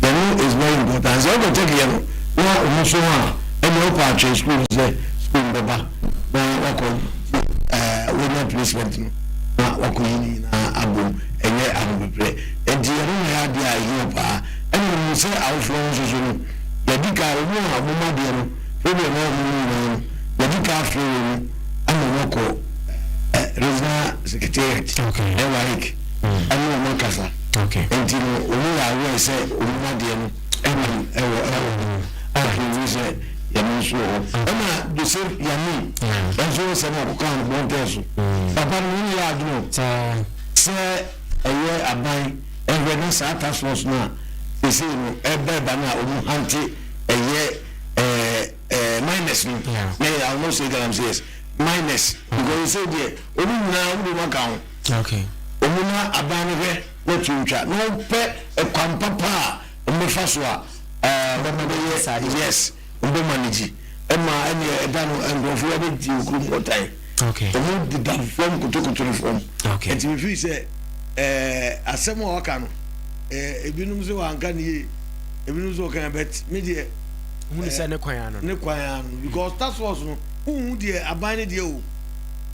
the no is very important sɛ ɔbɛ tɛki yɛ no na ɔmo so ho a ɛna ɔkɔ atwere sukuu sɛ sukuu no bɛba na wakɔ ɛɛ wɔnya placement no na wakɔ yi ne nyinaa abom ɛnyɛ ahopeprɛ nti ɛno na yɛ adeɛ a ɛhia paa ɛna ɔmo sɛ awofoɔ no soso no yɛdi ka ɔmo a ɔmo ma deɛ no problem a ɔmo nyinaa no yɛdi ka afiri wɔn ama wɔn akɔ regional secretariat ɛwɔ ayik. ɛne wɔn akasa nti no wɔn yɛ aware sɛ wɔn adeɛ no ɛnam ɛwɔ ɛwɔ hɔ a ɛfiri sɛ yɛn nso wɔ hɔ ɛna joseph yami ɛnso wɔ sɛm akɔka no bɔntɛn so papa no wɔn yɛ adwene sɛ ɛyɛ aban ɛhwɛ na saa task force no a ɛsɛ no ɛba ɛba no a wɔn hante ɛyɛ ɛɛ ɛɛ minus no na yɛ ahosuo ɛgana sɛ yes minus because ɛsɛ deɛ wɔn nyinaa wɔn de wɔn aka ho. Okay. Ɔmuna aban no hwɛ na to ntwa na ɔmpɛ ɛkwan papa a ɔmɛfa so a ɔbɛma no yɛ yes ɔbɛ manage ɛma ɛne ɛda no nkurɔfoɔ bɛ gye okurum ɔtan ɔmo deda fam kotokoto no fam ɛti mi firi sɛ asɛm a ɔka no ebinom sɛ wanka ne yie ebinom sɛ ɔka bɛt mi deɛ hunu sɛ ne kwan ano ne kwan ano because task force no huhu deɛ aban ne deɛ o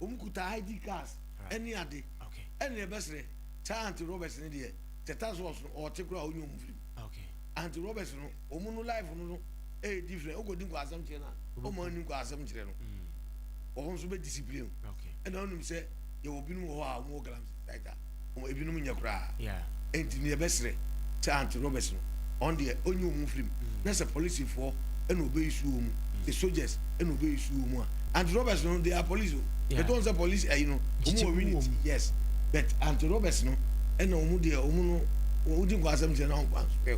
Wɔn kuta ID cars ɛne ade ɛna ɛbɛsrɛ saa Aunty Roberts no deɛ Tetas Horse no ɔɔte koraa ɔnyɛ wɔn film Aunty Roberts no wɔn no life no no ɛyɛ different wokɔ di nkwasɛm kyerɛ no a wɔn ani nkwasɛm kyerɛ no wɔn nso bɛ discipline wo ɛna wonim sɛ yɛwɔ binom wɔ hɔ a wɔn wɔ Galamsey site a. wɔn ebinom nyɛ koraa nti ne yɛbɛsrɛ sɛ Aunty Roberts no ɔn deɛ ɔnyi wɔn mfiri mu mm. na sɛ polisifoɔ ɛna ɔbɛyi su wɔn mu mm. sɛ soldiers ɛna ɔbɛyi su wɔn mu a Aunty Roberts no they are police o ɛtɔ n sɛ police ayi no wɔn wɔ unity yes but Aunty Roberts no ɛna wɔn deɛ wɔn no wodi nkɔ asɛm kyerɛ na wɔn kwan so pɛ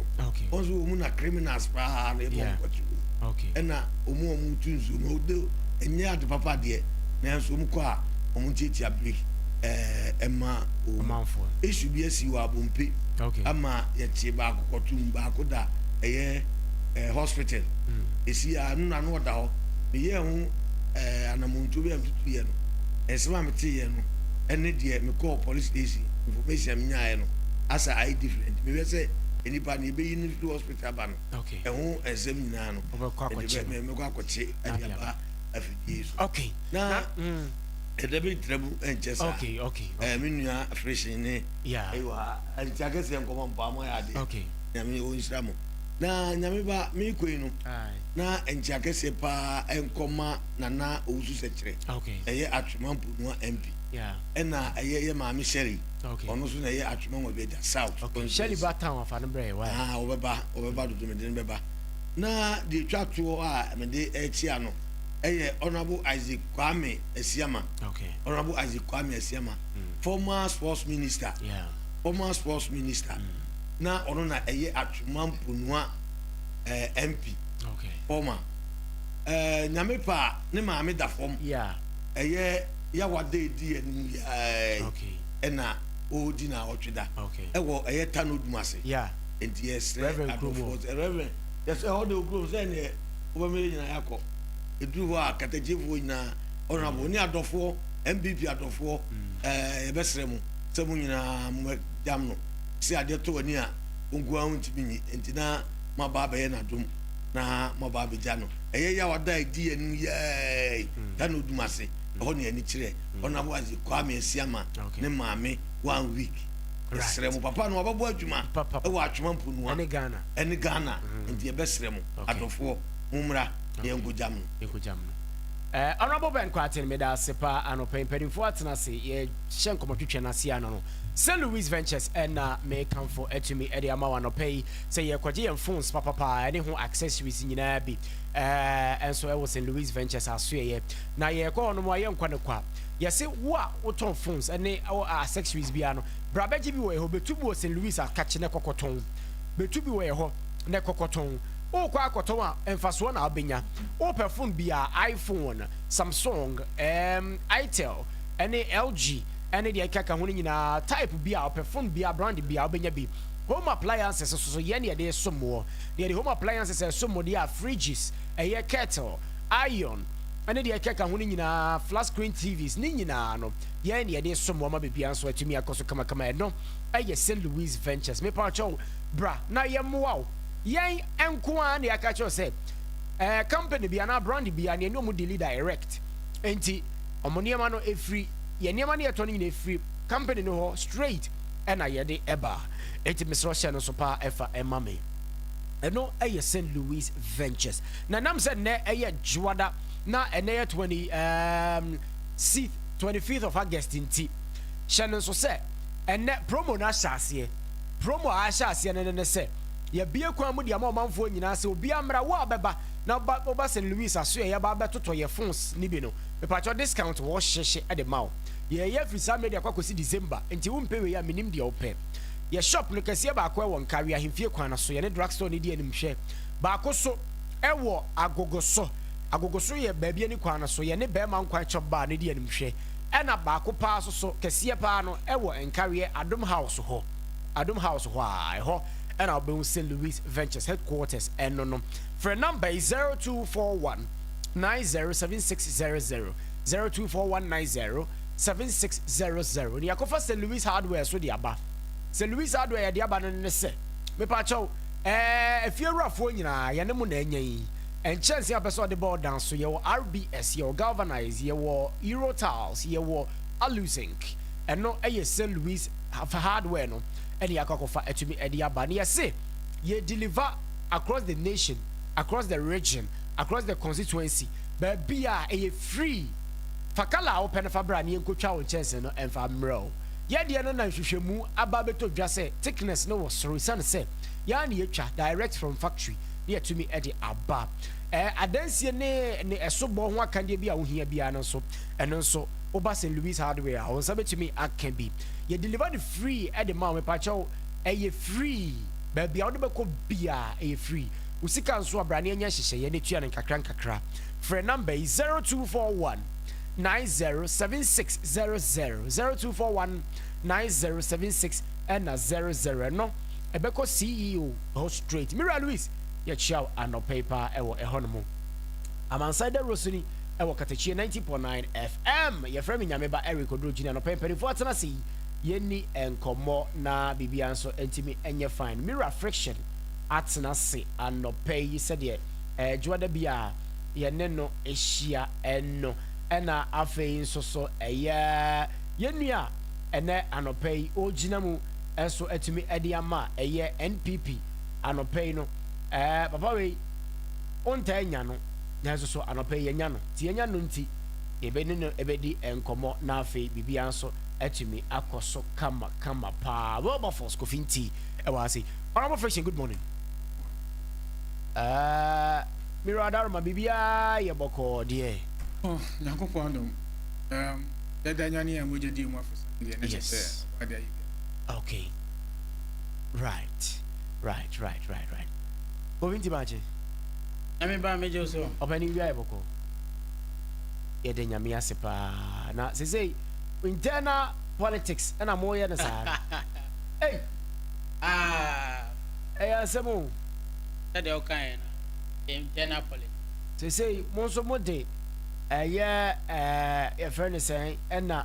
o wɔn so wɔn na criminals paa na ɛbɔ wɔn kɔkye o ɛna wɔn a wɔn tu nsuo no ɛnyɛ ade papa deɛ nanso wɔn kɔ a wɔn tiatia break. ɛɛ ɛma o ɔmanfoɔ esu bi asi wɔ abompe okay ama yɛte baako kɔtum baako da ɛyɛ ɛɛ hospital mm. esi a no na no ɔda hɔ meyɛ ho ɛɛ anamontuo bi a metutu yɛ no ɛsɛm a mete yɛ no ɛne deɛ mekɔɔ police station information a menyaeɛ no asa ayɛ different mehwɛ sɛ nipa no ebeyi no firi hospital aba no ɛho nsɛm nyinaa no ɛde bɛ mɛkɔ akɔkye ɛde aba afidie so na. Mm. ɛda bi ntra mu nkyɛ saa okay okay ɛɛ me nua afrehyɛn ne ɛyɛ wɔ ha ɛnti akɛseɛ nkɔmɔ mpa mo ayɛ adeɛ okay nyame wɔn nhyira mo na nyame ba me kɔ yi no na ɛnti akɛseɛ paa nkɔma nana owusu sɛkyerɛ okay ɛyɛ atwema mponua mp ɛna ɛyɛ yɛ maame sherry okay ɔno nso na ɛyɛ atwema wɔn bɛ da south okay sherry ba town afa no brɛ yɛ wa ah ɔbɛba ɔbɛba dodo mede no bɛba na deɛ twa toɔ a mede ɛkyia no. ɛyɛ honourable isaac kwame asiama okay. honourable isaac kwame asiama mm. former sports minister yeah. former sports minister mm. na ɔno na ɛyɛ atwoma mponua ɛɛ eh, mp okay. former ɛɛ eh, nyame paa ne maame da fam yeah. ɛyɛ yawade edi anim yɛɛ okay. ɛna ɔredi na ɔtwe da okay. ɛwɔ ɛyɛ tano dum ase yeah. nti yɛsrɛ adɔfoɔ sɛ reverend yɛsɛ ɔde okurom sɛ ɛneɛ. wɔbɛma yɛn nyinaa yɛakɔ. Ɛduru hɔ a, Katagyefoɔ nyinaa, honourable ne adɔfoɔ, NPP adɔfoɔ, ɛɛ eh, yɛbɛsrɛ mo sɛ mo nyinaa mobɛdam no sɛ adeɛ tɔ w'ani a nkoa ho ntumi nyi nti na moaba abɛyɛ n'adom na moaba abɛgya no ɛyɛ yɛ a wada ɛdi yɛn anim yɛɛi da na ɔdum ase ɛhɔ ne ani kyerɛ honourable ase Kwame Asiama ne maame one week ɛsrɛ mo papa no wabɛbɔ adwuma ɛwɔ atwoma mponoa ɛne Ghana nti yɛbɛsrɛ mo adɔfoɔ mo mmra na yɛnkɔ gyam no. Yɛnkɔ gyam no. Eh, Honourable Ben Kwaten, meda ase pa anɔpa yi. Mpanimfoɔ atena ase, yɛhyɛ nkɔmmɔ twetwe no ase ano no. St. Louis Ventures ɛna mekamfo atumi ɛde ama wo anɔpa yi sɛ yɛkɔgye yɛn phones papapa ɛne ho accessories nyinaa bi eh, ɛnso ɛwɔ St. Louis Ventures asoɛyɛ. Na yɛkɔ hɔ no mu a yɛnkɔ no kwa. Yɛse wo a wotɔn phones ɛne accessories biara no, bra bɛgye bi wɔ ɛhɔ, bɛtu bi wɔ St. Louis akakye na kɔkɔtɔn. Betu bi wɔ yɛ hɔ na kɔkɔtɔn. Wokɔ akɔtɔn a mfasoɔ na wobɛnya. Wopɛ phone bi a, iPhone, Samsung, ɛɛm, Itel ɛne LG ɛne deɛ ɛkeka ho no nyinaa, type bi a wopɛ, phone bi a, brand bi a, wobɛnya bi. Home appliances nso so yɛn na yɛde som woɔ. Deɛ yɛde home appliances ɛsom mo deɛ a, fridges, ɛyɛ kettle, iron ɛne deɛ ɛkeka ho no nyinaa, flat screen TVs, ne nyinaa no yɛn na yɛde som woɔ ama biribiara nso atumi akɔ so kamakama. Ɛno. yɛ Saint Louis Ventures mepakyɛw bra na yɛ mmoa wo yɛn nko ara na yɛaka kyerɛw sɛ ɛɛ eh, company bi anaa brand bi a nea ne ɔmo deli direct nti ɔmo nneɛma no efiri yɛn nneɛma no yɛtɔ no nyinaa efiri company no hɔ straight ɛna yɛde ɛba nti mesrɛ ɔhyɛ no so paa ɛfa ɛma me ɛno ɛyɛ Saint Louis Ventures na nam sɛ nnɛ ɛyɛ juada na ɛnɛ yɛ 20 um, 25th of August nti hyɛ no nso sɛ Ɛnnɛ, promo no ahyɛ aseɛ. Promo a ahyɛ aseɛ no ne ne sɛ, Yɛabue kwan mu de ama ɔmanfoɔ nyinaa sɛ obiara mmra, wo a wobɛba na woba woba St. Louis asoɛeɛ ba abɛtotɔ yɛn phones no bi no, mepakyɛw discount wɔ hye hye de ma wo. Yɛɛyɛ afiri saa mmerɛ de akɔ akɔsi December, enti wompɛ wei a mennim deɛ wopɛ. Yɛ shop no kɛseɛ baako wɔ Nkawe ahemfie kwan no so, yɛne drugstore no di anim, hwɛ baako so wɔ Agogo so, Agogo so yɛ baabi ani kwan no so, yɛne Bɛɛma Nkwan Chop Bar no di anim, hwɛ. Ɛna baako paa soso kɛseɛ paa no ɛwɔ Nkareɛ Adom House hɔ, Adom House hɔ a, ɛhɔ ɛna wobɛhu St. Louis Ventures headquarters ɛno no. Frɛ number yi 0241 907600, 0241 907600 na yɛakɔfa St. Louis Hardware so de aba. St. Louis Hardware yɛde aba no ne sɛ, mepakyɛw, ɛɛ, afiewurafoɔ nyinaa yɛne mo na anya yi. Nkyɛnsee a ɔpɛ sɛ ɔde bɔ ɔdan so, yɛwɔ RBS, yɛwɔ Galvanize, yɛwɔ Eurotiles, yɛwɔ Aluzinc. Ɛno yɛ St. Louis hardware no na yɛakɔ akɔfa atumi de aba. Na yɛse yɛ deliver across the nation, across the region, across the constituency, baabi a ɛyɛ free. Fa colour a wopɛ no fa bra na yɛnkɔtwa wo nkyɛnsee no mfa mmerɛ wo. Yɛ deɛ no na nhwehwɛmu aba abɛtɔ dwa sɛ thickness no wɔ soro esiane sɛ yɛn ara na yɛtwa direct from factory. ne yɛatumi de aba. Ɛɛ, adansie ne ne ɛsobɔ ho akandeɛ bi a wohia biara no nso, ɛno nso, woba St. Louis Hardware a, wo nsa bɛtumi aka bi. Yɛ deliver no free de ma wo. Mepakyɛw, ɛyɛ free. Baabi a wode bɛkɔ biara, ɛyɛ free. Wo sika nso a, bra na yɛnyɛ nhyehyɛeɛ na tua no nkakra nkakra. Frɛ number yi, 0241 9076 00, 0241 9076 ɛna 00. Ɛno Ɛbɛkɔ CEO hɔ straight. Me wura Luis, yɛkyea wo anɔpa yi paa ɛwɔ ɛhɔ nom. Amansan Dawurosu ni ɛwɔ Katakyiɛ 90.9 FM. Yɛfrɛ me Nyame ba Eric Odurogyin. Anɔpa yi mpaninfoɔ atena ase yi, yɛnni nkɔmmɔ na biribiara nso ntumi nyɛ fine. Me wura Friction atena ase anɔpa yi sɛdeɛ ɛɛdwoa da bi a yɛne no hyia no. Ɛna afei nso so ɛyɛ yɛn nua a ɛnɛ anɔpa yi ɔɔgyina mu nso atumi de ama a ɛyɛ NPP anɔpa yi no ɛɛ papa wei wontaa nya no nanso so anɔpa yi yɛnya no nti yɛnya no nti yɛbɛ ne no ɛbɛdi nkɔmmɔ na afei biribiara nso atumi akɔ so kama kama paa Wilberforce Kofi Nti ɛwɔ ase Honorable Friction good morning ɛɛ Miro Adaroma biribiara yɛ bɔkɔɔ deɛ. Oh, Nyankopɔn adom. Um, dada nyane a mogya di mu afesa. yes okay right right right right right obi nti maakye nyame ba megye so ɔpɛne wia yɛ bɔkɔ yɛde nyame ase paa na sesei internal politics ɛna moyɛ no saa ei ɛyɛ asɛm o sɛdeɛ wokaeɛ no internal politics sesei mo nso mode ɛyɛ yɛfrɛ no sɛn ɛna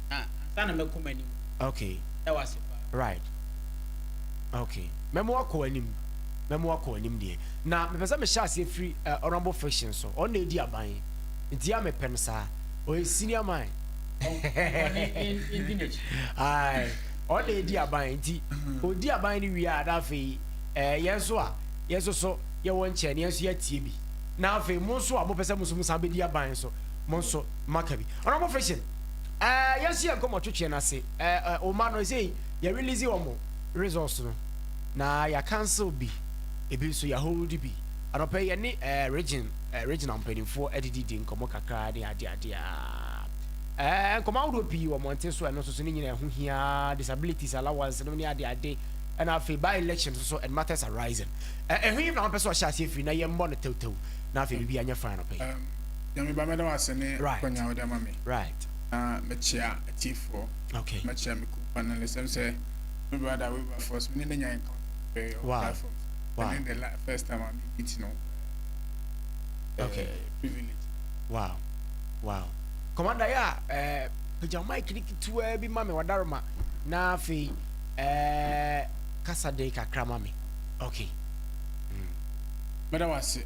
na ansa na mɛkɔ m'anim. Okay. Meda wo ase paa. Right. Okay. Mɛma wakɔ w'anim. Mɛma wakɔ w'anim deɛ. Na mepɛ sɛ mehyɛ aseɛ firi uh, honourable fiction so. Ɔno na ɛdi aban. Nti ya mepɛ no saa. Ɔyɛ senior man. Aye. Ɔno na ɛdi aban. Nti ɔdi aban no wie a na afei eh, yɛn nso a yɛn nso so yɛwɔ nkyɛn no yɛn nso yɛatie bi. Na afei mo nso a mopɛ sɛ mo nso mosan bɛdi aban nso mo nso maka bi. Honourable fiction. Eh, yɛnso yɛ nkɔmmɔ twetweɛ no ase. Eh, eh, wo mma no, ɛsei, yɛ release wɔn results no. Na yɛ cancel bi, ebi nso yɛ hold bi. Anɔpɛ yɛ ne eh, region, eh, regional mpanimfoɔ adidi di nkɔmmɔ kakra ne ade ade a. Eh, nkɔmmɔ ahodoɔ pii wɔ mmɔnten so, ɛno nso so ne nyinaa ɛho hia, disabilities allowance no ne ade ade. Ɛna afei by election nso so and matters arising. Eh, ɛho yi na wɔn pɛ sɛ ɔhyɛ aseɛ firi na yɛmmɔ no tewtew na afei biribi anyɛ fine anɔpɛ yi. Nyame ba mɛda wo ase ne akwanya a wode ama me na mɛkyea atiefoɔ mɛkyea me kuo panelist ɛm sɛ me brother Wilberforce me ne ne nya encounter pɛɛ on platform wow. and then the first time I meet you know uh, okay. privilege wow wow commander ya eh, pagya mike ne ketewa bi ma me wadaroma na afei eh, kasa den kakra ma me okay mm. mɛda wo ase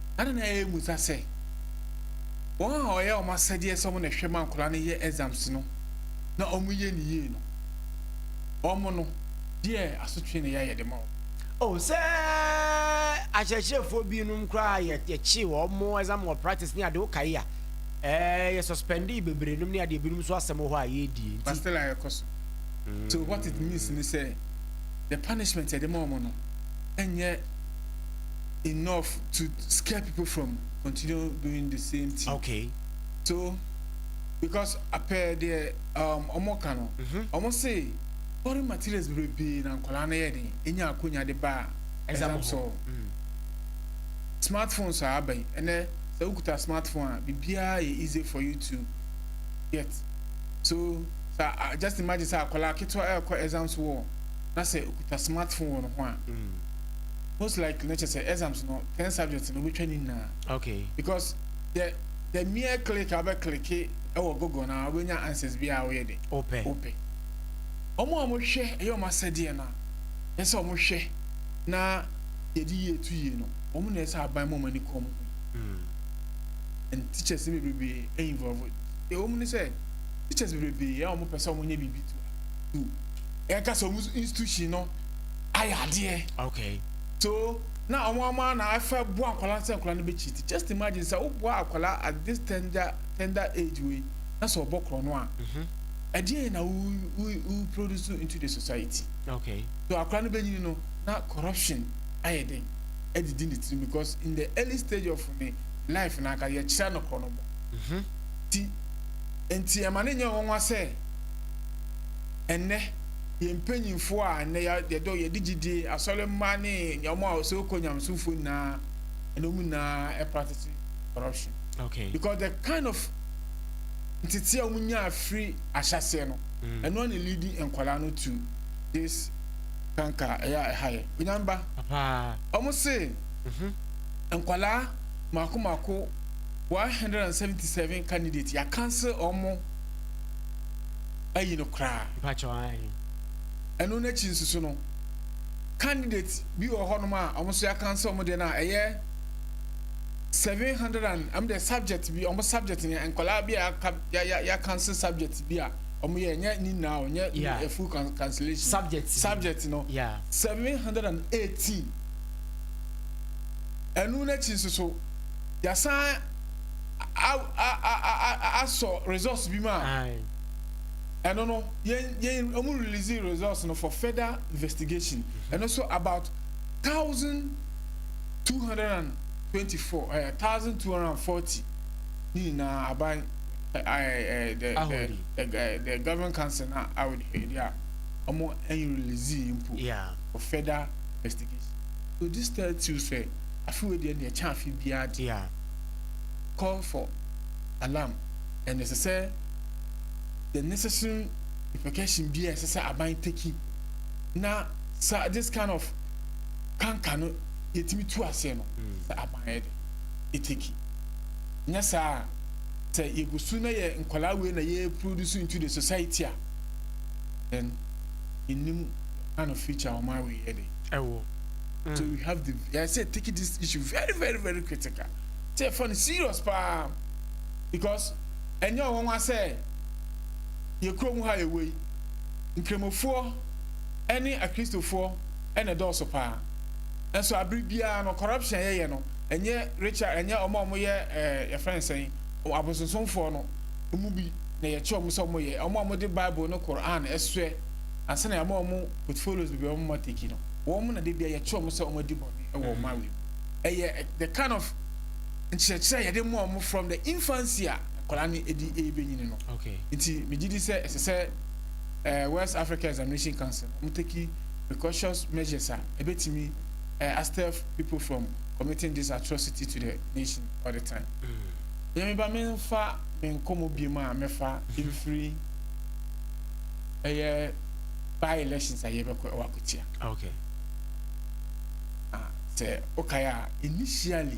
Adɛn na ɛyɛ mmusa sɛ wɔn a wɔyɛ wɔn asɛdeɛ sɛ wɔn na ɛhwɛ ma nkwadaa no yɛ exams no na wɔyɛ no yie no, wɔn no, deɛ asotwe na ɛyɛ a yɛde ma wɔn? Oh, sɛ akyerɛkyerɛfoɔ binom koraa a yɛkyee wɔn exam malpractice ne adeɛ, wokae a, ɛɛ, yɛ suspendee bebree nom ne adeɛ, ebinom nso asɛm wɔ hɔ a yɛredie, nti. But still a ɛkɔ so. So what it means ne sɛ, the punishment a yɛde ma wɔn no nyɛ. enough to scare people from continue doing the same thing. Okay. So because apɛ deɛ um, ɔmo ka no, mhm. ɔmo se foreign materials bebrebe na nkwadaa no yɛ den, enya akonya de ba exam so. Mm. Smartphones a aba yi, ɛnɛ sɛ wokuta smartphone a biribiara yɛ easy for you to get. So sa uh, just imagine sɛ akwadaa ketewa ɛrekɔ exam so wɔ na sɛ okuta smartphone wɔ ne ho a. Mm. most likely na kyerɛ sɛ exams no ten subjects na wobɛtwa ne nyinaa okay because the the mere click abɛ click ɛwɔ google na wobɛnya answers bi a woyɛ de wopɛ wopɛ ɔmo a wɔhwɛ ɛyɛ ɔmo asɛdeɛ no a ɛsɛ ɔmo hwɛ na yɛde yie to yie no ɔmo na ɛsɛ aban mu ɔmo ani kɔn mu hmm. and teachers no bebrebe ɛyɛ involve ɛwɔ mu ne sɛ teachers bebrebe ɛyɛ ɔmo pɛ sɛ ɔmo nyɛ biribi to ɛka sɛ ɔmo institution no ayɛ adeɛ. Okay. So na wɔn wɔn ara na afɛ boa akwadaa sɛ akwadaa no bɛ cheat. Just imagine sɛ wo boa akwadaa at this tender tender age wei na sɛ ɔbɔ korɔ no a. Ɛdeɛ yɛ na wo wo wo produce into the society. Okay. So akwadaa no bɛ nyini no na corruption ayɛ den ɛdidi ne tirim because in the early stage of ne life na aka yɛ kyerɛ no korɔ no bɔ. Mhm. Ti nti ɛma ne nyɛ wɔn wa sɛ ɛnɛ. yɛn mpanyimfoɔ a nnɛ yɛdɔ yɛde gyidie asɔre mma ne wɔn a so kɔ nyamesomfoɔ nyinaa ɛna wɔn nyinaa practice corruption okay. because the kind of ntete a wɔn nya afiri ahyɛseɛ no mm. ɛno na leadi nkwadaa no to this kanka ɛyɛ a ɛha yɛ onyamba wɔn se mhm. nkwadaa mako mako one hundred and seventy seven candidates yɛ cancel wɔn. ayi no koraa. Mpakyɛw ahe? Ɛno no akyi nso so no, candidate bi wɔ hɔ nom a ɔmo nso yɛaka nso ɔmo deɛ no a ɛyɛ seven hundred and ɔmo deɛ subject bi ɔmo subject no nkɔlaa bi a yɛaka ya ya yɛaka nso subject bi a ɔmo yɛ nyɛ ne nyinaa o nyɛ yeah. a full cancellation subject subject no yeah. seven hundred and eighteen ɛnu n'akyi nso so yɛasan asɔ results bi mu a. ɛno no yɛn yɛn wɔn release results no for further investigation mm-hmm. ɛno so about thousand two hundred and twenty four ɛɛ eh, thousand two hundred and forty ne nyinaa aban ɛɛ eh, ɛɛ eh, the the government council na awɔ ɛdi a wɔn ɛn release mpo for further investigation so this tells you sɛ afi wo deɛ deɛ kyɛn afi biara de call for alarm. And ɛsɛ sɛ the necessary repercussion bi a ɛsɛ sɛ aban teki na sa this kind of kanka no yɛtumi tu aseɛ no hmm. sɛ aban yɛ de ɛteki nyɛ saa sɛ yɛgu so na yɛ nkwadaa wei na yɛ produce into the society a then ɛnim kind of future ɔma wei yɛ de ɛwɔ so hmm. we have the yɛsɛ take this issue very very very critical sɛ ɛfa no serious paa Because ɛnyɛ ɔwanwa sɛ yɛ kuro mu ha yɛ wei. Nkremofoɔ ɛne akristofoɔ ɛna ɛdɔɔso paa. Nso abere biara no corruption a yɛyɛ no ɛnyɛ Richard ɛnyɛ ɔmo a ɔmo yɛ ɛɛ yɛfrɛ no sɛn abosonsomfoɔ no ɔmo bi na yɛkye ɔmo sɛ ɔmo yɛ ɔmo a ɔmo de bible ne Quran ɛsoɛ ansa na yɛama ɔmo portfolios bebree ɔmo ma teki no wɔn na de bia yɛkye ɔmo sɛ ɔmo adi bɔne ɛwɔ ɔmo awi mu ɛyɛ the kind of nkyerɛkyerɛ a yɛde ma wɔn from the infancy a akwadaa no edi rebenyin no. Nti megye di sɛ ɛsɛ sɛ eh, West Africa Examination Council wɔn take precautions measures a ebetumi eh, astep people from committing this atrocity to the nation all the time. Mm. Yɛn ba menfa me nkɔmɔ biem a mɛfa mhm. mfiri ɛyɛ by elections a yɛbɛkɔ ɛwɔ akotia. Okay. Ah, sɛ okae a initially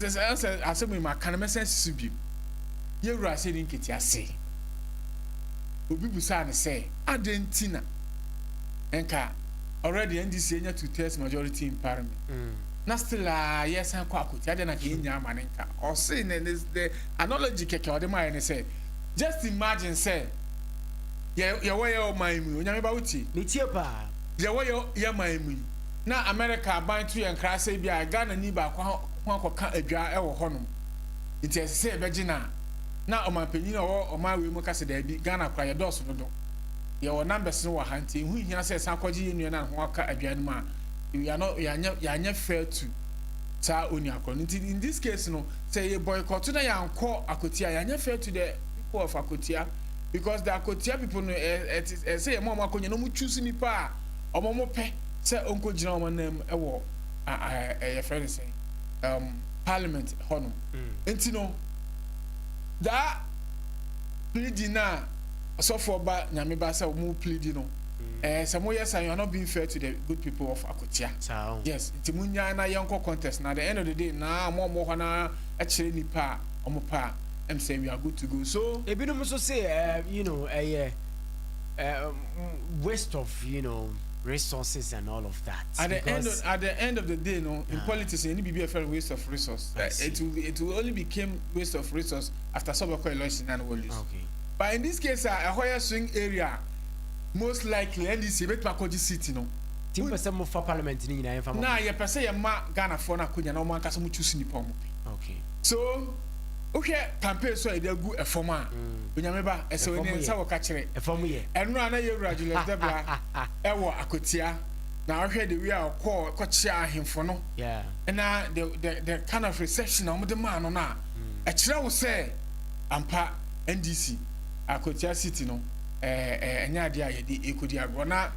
Sɛ sɛ sɛ asɛm yi maka no mɛsan asi so bio. Yɛn Wura ahyɛ ne nketea se, Obi bisaa no sɛ, adɛn nti na nka already NDC anya two thirds majority in parliament mm. na still a yɛsan kɔ akotia adɛn na nka yɛnya ama no nka ɔse ne ne the analogy kɛkɛ ɔde maayɛ ne sɛ just imagine sɛ yɛwɔ yɛ ɔman mu yi onyame ba wotie metie paa yɛwɔ yɛ yɛ man mu yi na Amerika aban to yɛn nkra sɛ ebia Ghanani baako ho akɔka adwa wɔ hɔnom, enti ɛsɛ sɛ yɛbɛgye no a, na ɔmampanyin a ɔwɔ ɔman wei mu ka sɛ, Dabi, Ghana koraa, yɛdɔɔso dodo. Yɛwɔ numbers no wɔ ha, enti ɛho nhia sɛ yɛsan kɔgye yɛn nua no a ne ho aka adwa no mu a, we are not, yɛanyɛ, yɛanyɛ fair to saa onua korɔ no. Nti, in this case no, sɛ yɛ boycott na yɛankɔ Akwatia a, yɛanyɛ fair to the people of Akwatia, because the Akwatia people no, ɛsɛ sɛ yɛma wɔn akɔnya na wɔn choose nipa a wɔn pɛ. sɛ ɔnkɔgyina wɔn anan mu wɔ yɛfrɛ no sɛn um, parliament hɔ nom mm. nti no daa plidi no a ɔsɔfoɔ ba nyame ba sɛ ɔmo plidi no ɛɛ eh, sɛ moyɛ sa you are not being fair to the good people of akotia oh. yes nti monyaa na yɛnkɔ contest na the end of the day na ɔmo ɔmo hɔ na ɛkyerɛ nipa a ɔmo pɛ a ɛm sɛ we are good to go so ebinom nso se eh, you know ɛyɛ eh, um, waste of you know resources and all of that at the end of at the end of the day no in uh, politics any be a fair waste of resource uh, it will be, it will only became waste of resource after some of election and will lose okay but in this case uh, a higher swing area most likely ndc bet ma koji city no tim pese mo for parliament ni nyina yemfa mo na ye pese ye ma ghana for na kunya na mo anka so mo choose ni pa mo okay so wohwɛ pampers a yɛde agu fam a mm. onyame ba ɛsɛ wɔ ne nsa wɔ ka kyerɛ ɛno a na yɛwura julius debra ɛwɔ akotia na ɔhwɛ de wi a ɔkɔɔ kɔkyea ahemfo no na the the the kind of reception a wɔde maa no no a mm. ɛkyerɛ wo sɛ ampa ndc akotia city no ɛɛ ɛnyɛ adeɛ a yɛde ekodi agorɔ na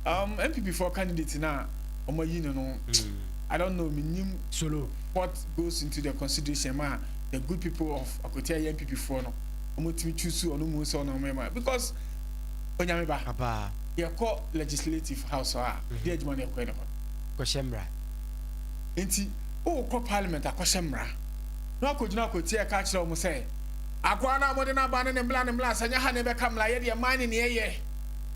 um, npp foɔ candidate na wɔn ayi no no mm. i don't know menim solo. What goes into the consideration ma the good people of Akotia yɛ NPP foɔ no wɔn tumi choose ɔno mu sɛ ɔno mɛma because onyame ba abaa yɛkɔ legislative house a di adwuma na ɛkɔɛ ne hɔ kɔhyɛ mmara nti wokɔ parliament akɔhyɛ mmara na wakɔgyina Akotia ɛka kyerɛ wɔn sɛ akoa no a mode no aba no ne mmla ne mmla sɛ nyɛ ha na ɛbɛka mmla yɛ deɛ man ne ne ɛyɛ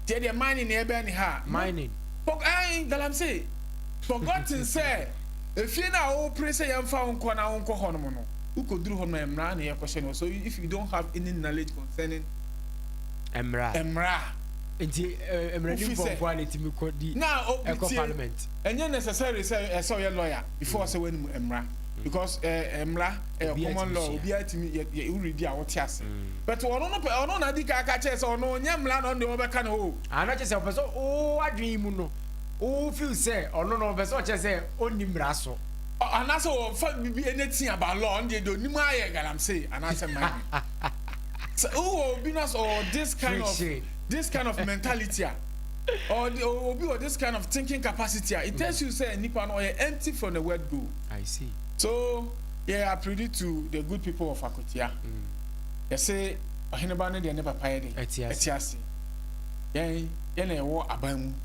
deɛ deɛ man ne ne ɛbɛn ne ha mining for, eh, galamsey forgotten sɛ Efie no a wopere sɛ yɛmfa wo nkɔ na wonkɔ hɔnom no, wukodur hɔ no, mmara na yɛkɔhyɛ no hɔ. So if you don't have any knowledge concerning mmara a, mmara a, Nti eh, mmaranimfoɔ nko ara na ɛtumi kɔdi na obi ɛkɔ tie, parliament. ɛnyɛ necessary sɛ ɛsɛ sɛ ɔyɛ lawyer before ɔsɛ wɔanim mmara. Because eh, mmara ɛyɛ Obiara common tumi law, sua. obiara tumi yɛ yɛ woredi a wote ase. But ɔno no pɛ, ɔno na adi kan aka kyerɛ sɛ ɔno ɔnyɛ mmara na ɔno deɛ wɔbɛka ne ho o. Ah, na kyerɛ sɛ ɔpɛ sɛ wo adwene mu no Wo feel sɛ ɔno no ɔpɛ sɛ ɔkyerɛ sɛ ɔnni mmara so. Anaasɛ wɔfa biribi ɛna ti aba law ɔno deɛ deɛ ɔnim ara yɛ galamsey anaasɛ mane. Sɛ wowɔ obi no sɛ ɔwɔ this kind of this kind of mentality a ɔde obi wɔ this kind of thinking capacity a it tells you sɛ nipa no ɔyɛ empty from the word go. I see. So yɛ appeal to the good people of Akwatia. Yɛse ɔheneba no deɛ ne papa yɛ den ɛte ase. Yɛn yɛn na yɛwɔ aban mu.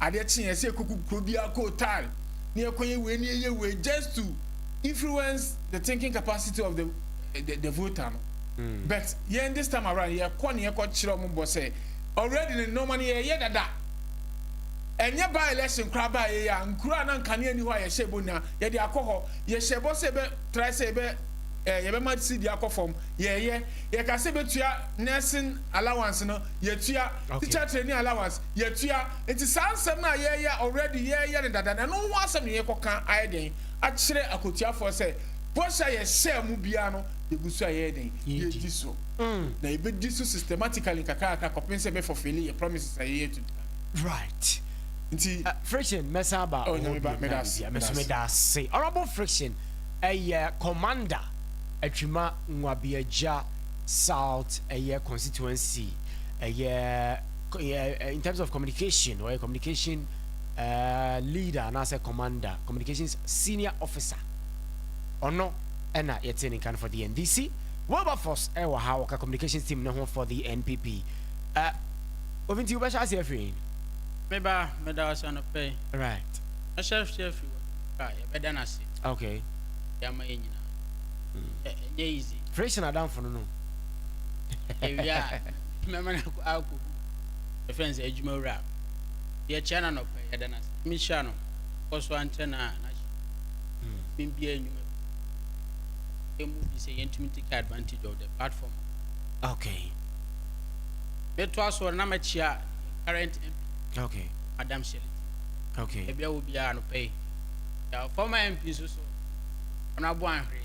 Adeɛ kyeeɛ ɛsɛ yɛkɔgu kuro biara kɔ hotel na yɛkɔyɛ wei na yɛyɛ wei just to influence the thinking capacity of the the the voter no but yɛn this time around yɛkɔ na yɛkɔ kyerɛ wɔn bɔ sɛ already no nneɛma no yɛyɛ dada ɛnyɛ by election koraa baa yɛyɛ a nkuro a na nkanea ni hɔ a yɛhyɛ bɔ nyinaa yɛde akɔ hɔ yɛhyɛ bɔ sɛ yɛbɛ try sɛ yɛbɛ ɛɛ yɛbɛma sidi akɔ fam yɛyɛ yɛka sɛ yɛbɛtua nursing allowance no yɛtua Teacher training allowance yɛtua nti saa nsɛm no a yɛyɛ a already yɛyɛ no dada no ɛno ho asɛm na yɛkɔ ka ayɛ dɛn akyerɛ akotuafoɔ sɛ bɔhyɛ a yɛhyɛɛ mo biara no yɛgu so a yɛyɛ dɛn yɛdi so na yɛbɛdi so systematically nkakrakra kɔpen sɛ bɛ fulfille yɛ promises a yɛyɛ to nipa no. Right. Nti. Friction mɛsan aba wɔ hɔ bio na biribiara mɛso meda ase Honourable Friction ɛyɛ Commander Atwima Nwabiagya South ɛyɛ constituency ɛyɛ in terms of communication ɔyɛ communication uh, leader anaasɛ commander communications senior officer ɔno ɛna yɛte ne nkan for the ndc wilberforce ɛwɔ ha wɔka communications team ne ho for the npp uh, obi nti wobɛhyɛ ase afiri me ba meda ɔsɛ no pɛ right ɛhyɛ hyɛ afiri wɔ a yɛbɛda no ase okay yɛama yɛ nyinaa ɛnyɛ easy Fresh na adamfo no no. Ewie a, mɛma no akɔ akɔgu yɛfrɛ no sɛ adwumawura. Yɛkyia no anɔpa yi, yɛda no ase. Nyame nhyira no, ɔkɔ so ara nkyɛ no a n'ahyɛ mu bia nnwuma bi. Yɛn mu bi sɛ yɛntumi take advantage of the platform. Okay. Mɛtoa so na mɛkyia current MP. Okay. Madam Shirley. Okay. Ebia wɔ biara anɔpa yi. Yɛ former MP nso so, ɔno abo anhwere.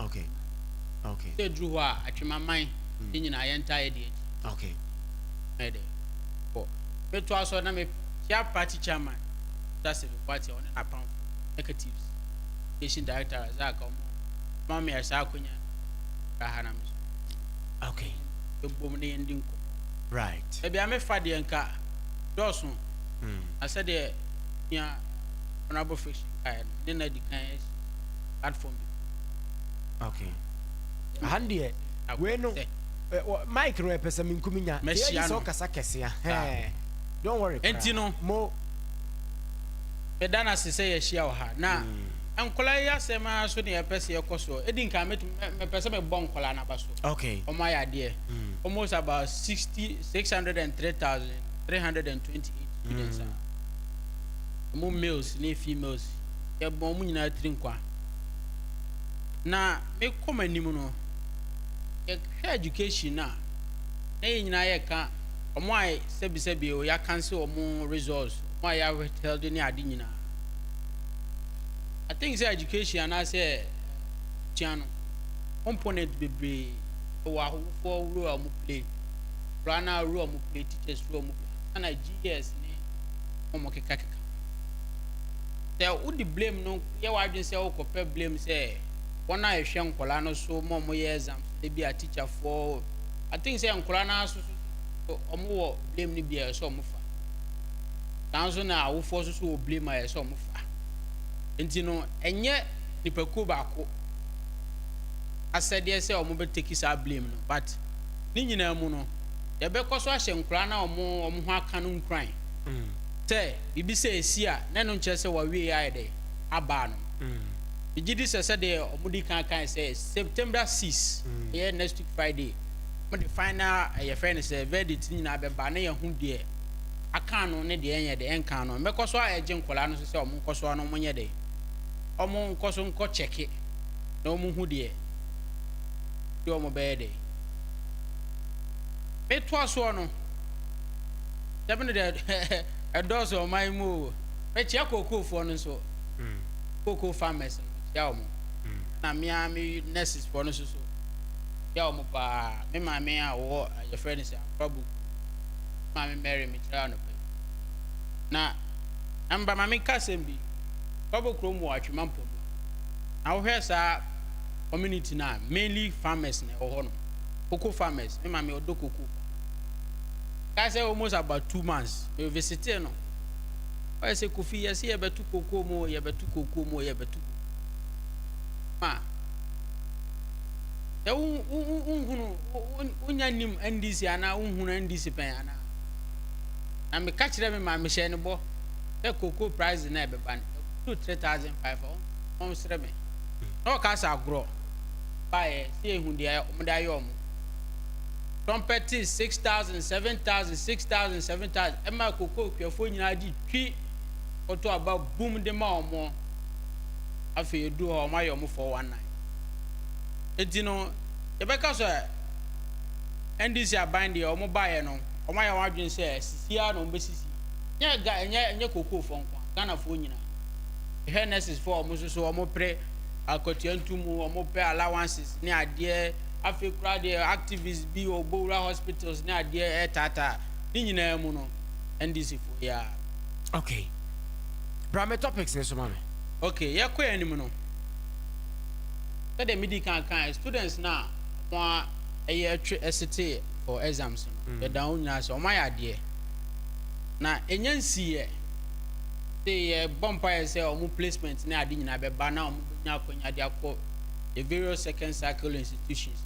Okay. Okay. Sɛ duru hɔ a atwemaman ne hmm. nyinaa yɛntaa yɛ deɛ akyi. Okay. Ɛyɛ dɛ. Bɔ. Metoa so na mehyia party chairman Mr. Seven Kwati a ɔne n'apamfo executives education director Razak a ɔmo ma me saa akonya bra ha na me so. Okay. Yɛbom na yɛndi nkɔmmɔ. Right. Ebi a mefa deɛ nka dɔɔso. Hmm. Na sɛdeɛ nua honorable fiction kaeɛ no ne na di kan platform bi. okay aha no deɛ wei no mike no ɛpɛ sɛ menkumi nya yɛyi sɛ ɔkasa kɛse a ah. don't worry ɛnti no mo ɛda no ase sɛ yɛahyia wɔ ha na hmm. nkɔla yɛ asɛm ara so ne yɛpɛ sɛ yɛkɔ soɔ ɛdi nka mepɛ sɛ mebɔ nkɔla no aba so okay ɔmo ayɛ adeɛ hmm. almost about 60 603328 students a ɔmo males ne females yɛbɔ wɔn nyinaa tiri nkwa. Na mekɔ m'anim no, yɛhwɛ education no a, na yɛn nyinaa yɛka wɔn a sɛbisɛbi o, yɛakanse wɔn results, wɔn a yɛawithheld ne ade nyinaa. I think sɛ education anaasɛ sua no component bebree wɔ ahofoɔ role a wɔn play, koraa na role a wɔn play, teachers role a wɔn play, ana GS ne wɔn kekakeka. sɛ wode blame no yɛ w'adwene sɛ wokɔpɛ blame sɛ wɔn a ɛhwɛ nkwadaa no so ma wɔyɛ exam so ebi a teacherfoɔ I think sɛ nkwadaa no aso so wɔn wɔ blame no bi a ɛsɛ wɔn fa saa nso na awofoɔ nso so wɔ blame a ɛsɛ wɔn fa nti no ɛnyɛ nipakuo baako asɛdeɛ sɛ wɔn bɛ take saa blame no but ne nyinaa mu no yɛbɛkɔ so ahyɛ nkwadaa no a wɔn wɔn ho aka no nkuran. Sɛ biribi sɛɛ resi a, na ɛno nkyerɛ sɛ wɔawie ayɛ dɛ? Aba ano no. Megye di sɛ sɛdeɛ wɔdi kan kae sɛ September six, ɛyɛ next week Friday, wɔde final eh, yɛfrɛ no sɛ verdict no nyinaa bɛba na yɛahu deɛ aka ano ne deɛ ɛnyɛ dɛ, ɛnka ano. Ɛbɛkɔ so aɛgye nkwadaa no nso sɛ wɔnkɔ so ara na wɔnyɛ dɛ? Wɔnkɔ so nkɔ kyɛke na wɔnhu deɛ nti wɔbɛyɛ dɛ. Metoa soɔ no, Sɛbi no deɛ ɛdɔɔso ɔman yi mu o. Mekyia kookoofoɔ no nso. Kookoo farmers no mekyia wɔn. Na me ara me nurses foɔ no nso so mekyia wɔn paa. Me maame a ɔwɔ yɛfrɛ no sɛ Akorabu. Me maame Mary mekyia no pɛ. Na ɛmba ma me nka asɛm bi. Kwabo kurom wɔ Atwima Mpɔmu. Na wohwɛ saa community no a mainly farmers na ɛwɔ hɔ nom. Cocoa farmers. Me maame ɔdɔ cocoa. Mekae sɛ almost about two months me visitee no ɔyɛ sɛ Kofi yɛse yɛbɛto kookoo mu o yɛbɛto kookoo mu o yɛbɛto ma sɛ wohunu wonya nim NDC anaa wohunu NDC pɛn anaa na meka kyerɛ me maa mehyɛ ne bɔ sɛ kookoo price na ɛbɛba no ɛkuru 3500 ɔnsrɛ me na ɔka sɛ agorɔ baeɛ sɛ ɛhu deɛ ɔmode ayɛ ɔmo Trumpeters six thousand, seven thousand, six thousand, seven thousand, ɛma kokokuafoɔ nyinaa gye twi koto aba bum de ma wɔn. Afei ɛduru hɔ a, wɔayɛ wɔn four one nine. Enti no, yɛbɛka sɛ NDC aban deɛ wɔn baeɛ no, wɔayɛ wɔn adwene sɛ sisi ara na wɔbɛsisi. Nyɛ Ga ɛnyɛ ɛnyɛ kokofoɔ nko ara, Ghanafoɔ nyinaa. Yɛhwɛ nurses foɔ a wɔn nso so wɔpere akwatua ntumu, wɔpɛ allowances ne adeɛ. Afei koraa deɛ activists bi wɔ Bowura hospitals ne adeɛ retaataa ne nyinaa mu no, NDC foɔ yi ara. Okay. Bra me topics no so ma me. Okay, yɛkɔ anim no, sɛdeɛ medii kan kaeɛ, students no a wɔayɛ atwi sete for exams no, yɛda wɔn nyinaa ase, wɔayɛ adeɛ. Na ɛnya nsiiɛ. Sei yɛbɔ mpaeɛ sɛ wɔn placement ne ade nyinaa bɛba na wɔbɛnya akwanya de akɔ. yɛ various second cycle institutions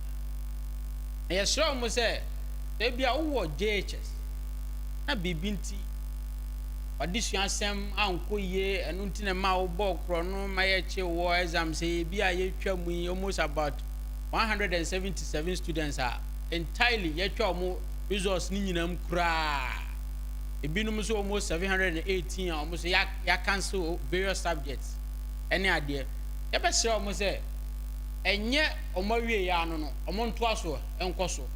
no na yɛsrɛ wɔn sɛ ebia wowɔ JHS na biribi nti w'adesua asɛm ankɔ yie ɛno nti na ma wobɔɔ korɔ no ma yɛkye wɔ exam sɛ ebi a yɛtwa mu yi almost about 177 students a entirely yɛtwa wɔn results no nyinaa mu koraa ebinom nso almost 718 a wɔn nso yɛacancel various subjects ɛne adeɛ yɛbɛsrɛ wɔn sɛ ɛnyɛ wɔn awieeɛ ara no no, wɔntoa so nkɔ so.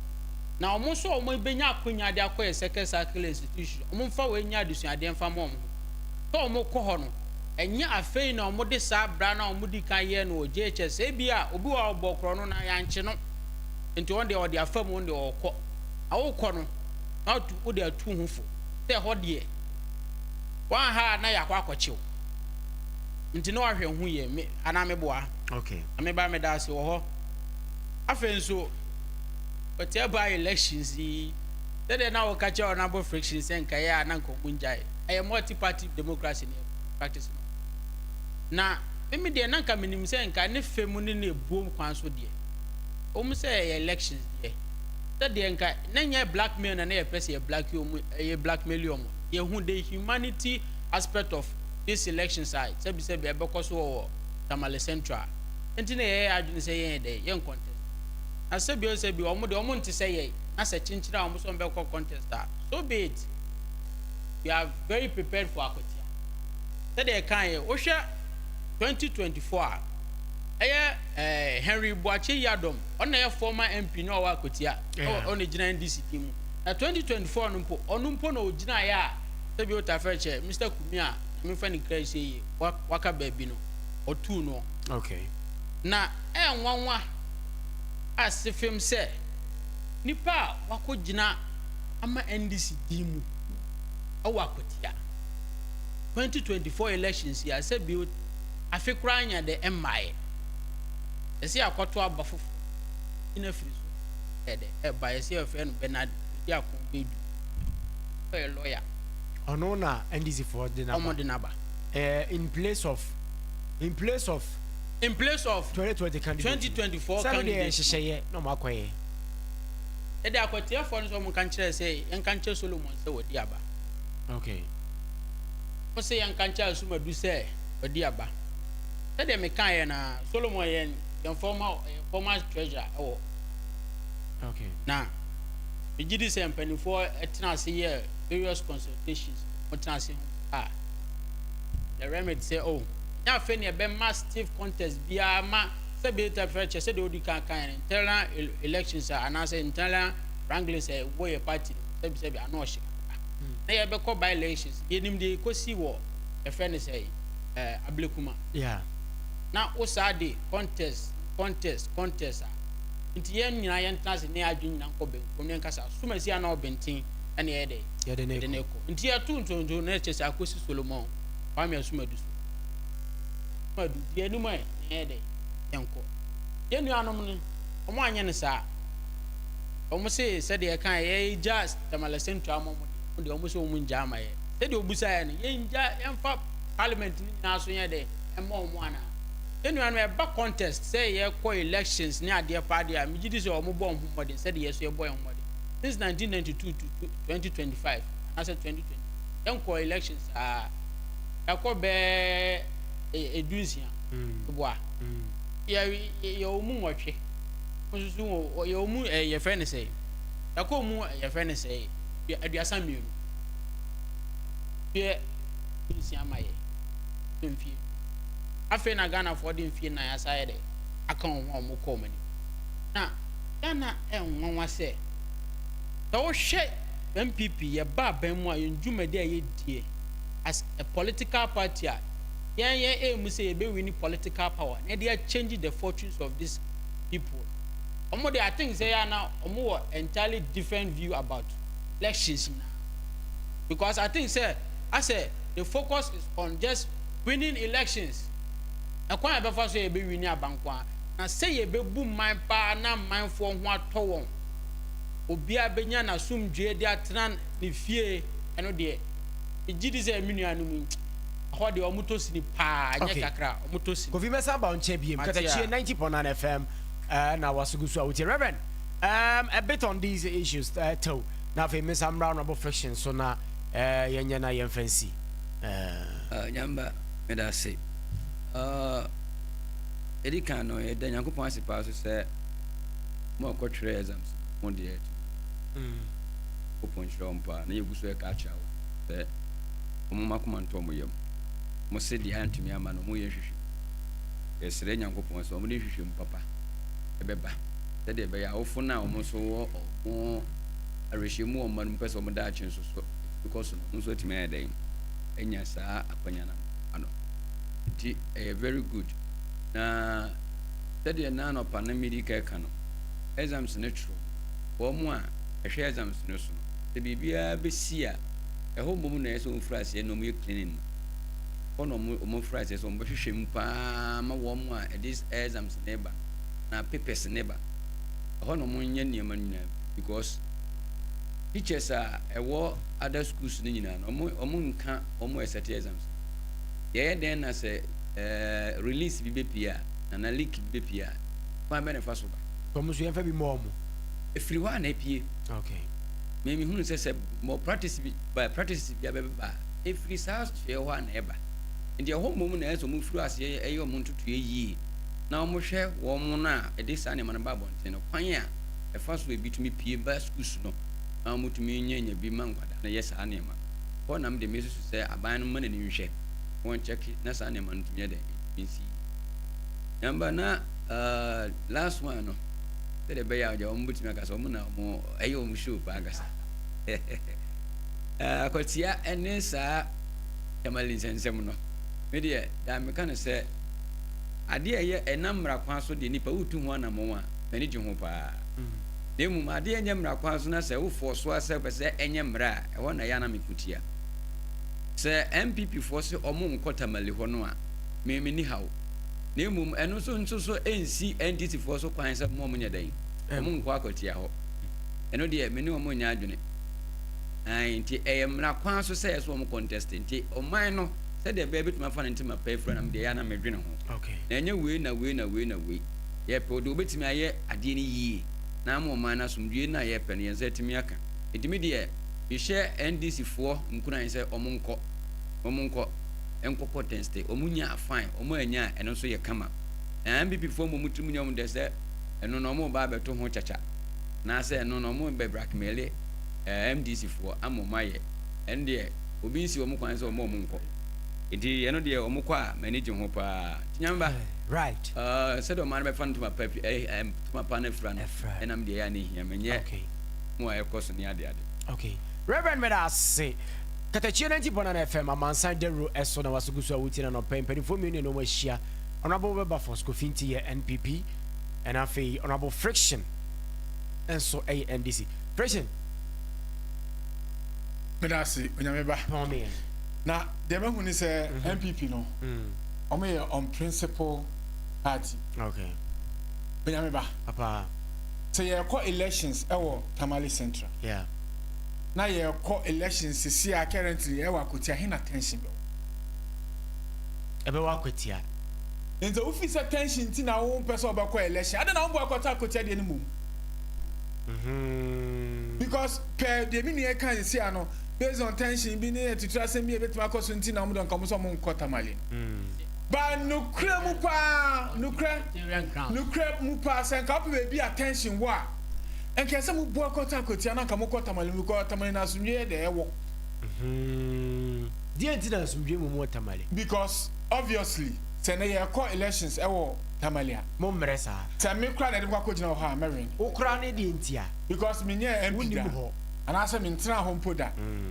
Na wɔn nso a wɔbɛnya akwannya de akɔ yɛn Circle Circle Institution no, wɔmfa wei nyɛ adesuadeɛ mfa mma wɔn ho. Sɛ wɔkɔ hɔ no, ɛnyɛ afei na wɔde saa bra no a wɔdii kan yɛɛ no wɔ JHS, ebia obi wɔ hɔ a wɔbɔɔ korɔ no na yɛankye no, nti ɔno deɛ ɔde afa mu, ɔno deɛ ɔrekɔ. Na worekɔ no, na watu, wode atu wo ho fo sɛ ɛhɔ deɛ, woanha a na yɛakɔ akɔkye wo. Nti na wahwɛ ho yie me anaa me boa. Okay. Na me ba me da ase wɔ hɔ. Afei nso ɔte ɛba elections yi sɛdeɛ na wɔka kyerɛ wɔn abo friction sɛ nka yɛ a na nka wɔn ngyae ɛyɛ multi party democracy ne practice no na mimi deɛ na nka menim sɛ nka ne fɛ mu ne ne ebuom kwan so deɛ wɔn sɛ ɛyɛ elections deɛ sɛdeɛ nka na nyɛ blackmail na na yɛ pɛ sɛ yɛ black wɔn yɛ blackmail wɔn yɛ hu the humanity aspect of this elections a sɛbisɛbi ɛbɛkɔ so wɔ wɔ Tamale Central nti na yɛyɛ adwene sɛ yɛnyɛ dɛn, yɛn contest. Na sɛbi o sɛbi wɔn deɛ wɔn nte sɛ yɛn na sɛ kyenkyere a wɔn sɛ wɔn bɛkɔ contest a, so be it. We are very prepared for akwatia. Sɛdeɛ yɛkae yɛ, wohwɛ 2024 a, ɛyɛ eh, Henry Boakye Yiadom, ɔno na ɛyɛ former MP na ɔwɔ akwatia, yeah. ɔno gyina NDC din mu. Na 2024 no mpo, ɔno mpo na ɔgyinaeɛ a, sɛbi o Tafɛkyɛ, Mr. me a memfa no kra sie yi waka baabi no ɔtuu noɔ. Okay. Na ɛyɛ nwanwa a sefem sɛ nipa a wakɔ gyina ama NDC din mu ɛwɔ akwatia 2024 elections yi a sɛ bio afe koraa anya dɛ ɛmmaeɛ yɛsɛ yɛakɔto aba foforo gyina firi so ɛdɛ ɛba yɛsɛ yɛfrɛ no Bernard Oduakon Badu ɔyɛ lawyer Ɔno na NDC foɔ de no aba. Ɔmo de no aba. Eh, in place of, in place of. In place of. 2020 candidate. 2024 candidate. Sɛbi deɛ nhyehyɛeɛ na ɔmo akɔyɛ. Ɛde akɔteɛfoɔ no sɛ ɔmo nka nkyerɛ sɛ yɛnka nkyerɛ Solomon sɛ wɔde aba. Okay. Mo sɛ yɛnka nkyerɛ Asumadu sɛ wɔde aba. Sɛdeɛ mekaa yɛ na Solomon yɛ yɛn former yɛ former treasurer ɛwɔ. Okay. Na megye di sɛ mpanimfoɔ ɛtena ase yɛ. various consultations na wɔn tena ase ho a, the remit sɛ oh ɛnyɛ afei na yɛbɛma stiff contest biara ma sɛ bɛyɛ ta fɛ kyɛ sɛdeɛ odi kan kan yɛn internal elections a anaasɛ internal wranglings a ɛwɔ yɛ party no sɛbi sɛbi ano ɔhye kakra na yɛbɛkɔ by elections yɛnim deɛ yɛkɔsi wɔ yɛfɛ no sɛ eh, ablekuma yeah. na wo saa de contest contest contest a nti yɛn nyinaa yɛntena ase ne yɛn adwene nyinaa nkɔ benkum ne yɛnkasa asomasi a na ɔbɛnten ɛne yɛyɛ dɛ yɛde ne kɔ nti yɛto ntonto na ɛkyɛ sɛ akɔsi solomon kwame asomadu so madu di anim ɛ na yɛyɛ dɛ yɛnkɔ yɛn nuanom no wɔn anyɛ no saa wɔn se sɛdeɛ ɛka yɛyɛ gya tamale sɛntu ama wɔn wɔn deɛ wɔn se wɔn ngya ama yɛ sɛdeɛ obusa yɛ no yɛn ngya yɛn fa parliament no nyinaa so yɛ dɛ ɛmma wɔn ana yɛn nuanom ɛba contest sɛ yɛkɔ elections ne adeɛ pa adeɛ a megye di sɛ wɔn bɔ wɔn ho mmɔden sɛdeɛ yɛ so yɛbɔ yɛn ho mmɔden since 1992 to 2025 anaasɛ 2020 yɛnkɔ election saa yɛakɔ bɛɛ edu nsia boa yɛ yɛ wɔn mu nwɔtwe nso so yɛ wɔn mu ɛɛ yɛfrɛ ne sɛ yɛakɔ wɔn mu yɛfrɛ ne sɛ aduasa mmienu yɛ nsia ma yɛ so mfie afei na ghanafoɔ de mfie nan asa yɛ dɛ aka wɔn ho a wɔn kɔ wɔn anim na. Ghana ɛyɛ nwanwa sɛ, sɛ wohwɛ NPP yɛ ba aban mu a yɛn dwumadi a yɛdie as a political party a yɛn yɛn aim sɛ yɛbɛ wini political power na yɛde akyɛngyi the fortunes of this people wɔn de I think sɛ yɛ ana wɔn wɔ entirely different view about elections na because I think sɛ asɛ the focus is on just winning elections ɛkwan a yɛbɛfa so yɛbɛ wini abankoa Na sɛ yɛbɛbu mman paa na mmanfoɔ ho atɔ wɔn, obiara bɛnya n'asomdwoeɛ de atena ne fie, ɛno deɛ, megye di sɛ me nuanom yi, ɛhɔ deɛ wɔtɔ sini paa, ɛnyɛ kakra, wɔtɔ sini. Kofi mɛsan aba wo nkyɛn biom. Mate Katakyie a. 90.9 FM eh, na wase gu so a wotie. Rev. Um, a bit on these issues, eh, too. Na afei mensan mmra honourable fiction so na eh, yɛnyɛ na yɛmfa nsi. Eh. Ah, Nyamba, meda ase. Ah, Edi kan no, yɛda Nyankopɔn ase paa so sɛ mo a ɔkɔtwerɛɛ exams no, mo deɛ atu mpɔn. Nyankopɔn nhyira wɔn paa, na yɛgu so reka akyerɛ wɔn sɛ wɔmma wɔn akoma ntɔ wɔn yam. Wɔse deɛ antumi amma no, wɔreyɛ nhwehwɛmu. Yɛsrɛ Nyankopɔn sɛ wɔde nhwehwɛmu papa bɛba, sɛdeɛ ɛbɛyɛ a awofo no a wɔn nso wɔ wɔn awerɛhyem mu wɔ wɔn mma no mu pɛ sɛ wɔn daakye nso so tumi kɔ so no, wɔn nso atumi ayɛ dɛn anya saa akwanya no ano. Enti ɛyɛ very good. Na sɛdeɛ na anɔpa no medi ka ka no, exams no twerɛ. Wɔn a ɛhwɛ exams no so no, sɛ biribiara bɛsi a, ɛhɔ mmom na ɛyɛ sɛ wɔfiri aseɛ na wɔyɛ cleaning no. Hɔ na wɔfiri aseɛ sɛ wɔbɛhwehwɛ mu paa ma wɔn a ɛde exams no ba no na papers no ba. Ɛhɔ na wɔnyɛ nneɛma no nyinaa because teachers a ɛwɔ other schools no nyinaa no, wɔn nka wɔn a ɛsɛte exams no. Yɛyɛ dɛn na sɛ Eh, release bi bepie a, anaa leak bi bepie a, kwan bɛn na ɛfa so ba? Sɛ wɔn nso yɛmfa bi mmɔ wɔn. Ɛfiri hɔ a na epie. Okay. Me mehunu sɛ sɛ more practice bi ba practices bi abɛba a, ɛfiri saa soɛ hɔ a na ɛba. Nti ɛhɔ mmom na ɛyɛ sɛ wɔfiri aseɛ yɛ wɔn ntotoeɛ yie na wɔhwɛ wɔn no a ɛde saa nneɛma no ba abɔnten no kwan a ɛfa so a ebi tumi pie ba schools no na wɔtumi nyanya bi ma nkwadaa no yɛ saa nneɛma no. Hɔ na me deɛ mesusu sɛ aban no mma n'ani nhwɛ. wɔn check na saa nneɛma no tumi yɛ dɛ nsi number na uh, last one no sɛdeɛ ɛbɛyɛ a ɔgya wɔn bɛtumi akasa wɔn na wɔn ɛyɛ wɔn show paa kasa akwatia uh, ɛne saa tamale nsɛnsɛm no me deɛ daa meka no sɛ adeɛ ɛyɛ ɛnam mmara kwan so deɛ nipa wotu ho anamɔn a m'ani gye ho paa na mmom adeɛ ɛnyɛ mmara kwan so na sɛ wofoɔ so asɛ pɛ sɛ ɛnyɛ mmara a ɛhɔ na yɛ anam ɛkutia Sɛ NPP foɔ se wɔn nkɔ Tamale hɔ no a, me menni haw. Na mmom ɛno nso nso so ɛnsi NDC foɔ so kwan sɛ wɔn nyɛ dɛn? Wɔn nkɔ akɔtia hɔ. Ɛno deɛ me ne wɔn nnyɛ adwene. Ae, nti ɛyɛ mmara kwan so sɛ ɛsɛ wɔn contest. Nti ɔman no sɛdeɛ ɛbɛyɛ bɛtumi afa no ntem apa afira no me deɛ ɛyɛ a na me dwene ho. Na ɛnyɛ wei na wei na wei na wei. Yɛpɛ deɛ wɔbɛtumi ayɛ adeɛ no yie na ama ɔman no asomdwoeɛ no na yɛpɛ no yɛn nsa atumi aka. Nti me deɛ. Mehyɛ NDC foɔ nkuran sɛ ɔmo nkɔ, ɔmo nkɔ, nkɔ kɔtɛnste, ɔmo nya a fine, ɔmo annya a ɛno nso yɛ kama. Na NPP foɔ mmom tirim nyɛ ɔmo dɛ sɛ ɛno na ɔmo reba abɛto ho kyakya, anaasɛ ɛno na ɔmo rebɛ brackmeele MDC foɔ ama ɔmo ayɛ, ɛno deɛ obi nsi ɔmo kwan sɛ ɔmma ɔmo nkɔ. Nti ɛno deɛ ɔmo kɔ a m'ani gye ho paa. Nti Nyame ba, sɛdeɛ ɔman no bɛfa no ntoma pa, ntoma pa no afira no, ɛna me deɛ ɛyɛ a na ɛhia me, ɛnyɛ. mu a ɛkɔ so ne adeade. Ok Rev meda ase katakyie no nti Bɔnana FM amansan dawuro ɛso na waso guso a wotie no anɔpa yi mpaninfoɔ mmienu na ɛne wɔn ahyia Honourable Wilberforce Kofi Nti yɛ NPP ɛna afei Honourable Friction nso ɛyɛ NDC Friction Meda ase Onyame ba Pɔn me yɛn Na deɛ mahu ne sɛ NPP no wɔn yɛ on principle party Ok Onyame ba Papa. sɛ yɛrekɔ elections wɔ Tamale Central. Yeah. Na yɛrekɔ elections sisi a currently ɛwɔ akwatia he na tension bɛwɔ. Ɛbɛwɔ akwatia. Nti wofi sɛ tension nti na wo mpɛ sɛ ɔbɛkɔ election adɛn na wo bɔ akɔtɔ akwatia deɛ no mmom. Mm-hmm. Because pɛ deɛ me nua kan sisi ano based on tension bi ne atitiri asɛm bi a ebetumi akɔ so nti na wɔn de nka wɔn sɛ wɔn nkɔ Tamale. Mm. Ba nokorɛ mu paa, nokorɛ, nokorɛ mu paa, sɛ nka wopɛ baabi a tension wɔ a, nka ɛsɛ mo boa kɔtɔ akwatia na nka mo kɔ Tamale mu because Tamale na asomdwoeɛ dɛ ɛwɔ. Deɛ nti na asomdwoeɛ mmom wɔ Tamale? Because obviously sɛ nnɛ yɛrekɔ elections ɛwɔ Tamale a. Mo mmerɛ saa. Sɛ me koraa na yɛde me kɔ akɔ gyina wɔ hɔ a mɛ win. Wo koraa ne deɛ nti a. Because me nyɛɛ MP da anaa sɛ me ntenaa hɔ mpo da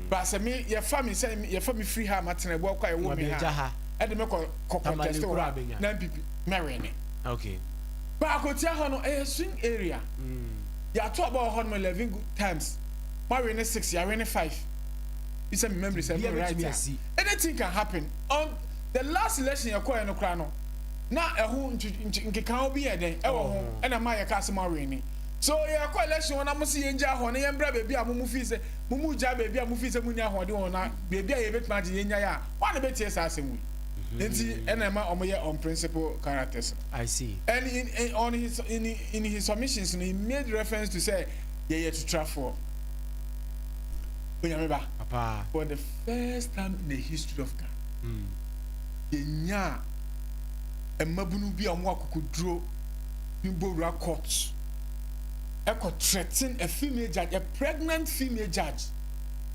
but sɛ me yɛfa me sɛ yɛfa me firi ha a matena ɛboa kɔ a ɛwɔ me ha a. ɛde me kɔ kɔ contest wɔ hɔ na npp mɛ win ne okay baako tia hɔ no ɛyɛ swing area mm. yɛato aba wɔ hɔ no eleven good times ma win ne six yɛ win ne five isɛ mi memory sɛ mi right a anything can happen on the last election yɛ kɔɛ no koraa no na ɛho nkekaho bi yɛ dɛn ɛwɔ ho oh. ɛna ma yɛ kaa sɛ ma win ne so yɛ kɔ election wɔn na mo si yɛn gya hɔ no yɛn bra beebi a mo mo fi sɛ mo mo gya beebi a mo fi sɛ mo ni ahoɔden wɔn na beebi a yɛ betuma agye yɛn nya yɛ a. Hwan na obetie saa asɛm yi? Enti ɛna ɛma wɔyɛ unprincipled characters no. I see. And in in on his in in his submissions no, he made reference to sɛ yɛyɛ tutrafoɔ. Onyame ba. Papa. For the first time in the history of Ghana, Mm. yɛnyaa mmabunu bi a wɔwɔ akokoduro ne bowura court ɛkɔ threaten a female judge, a pregnant female judge.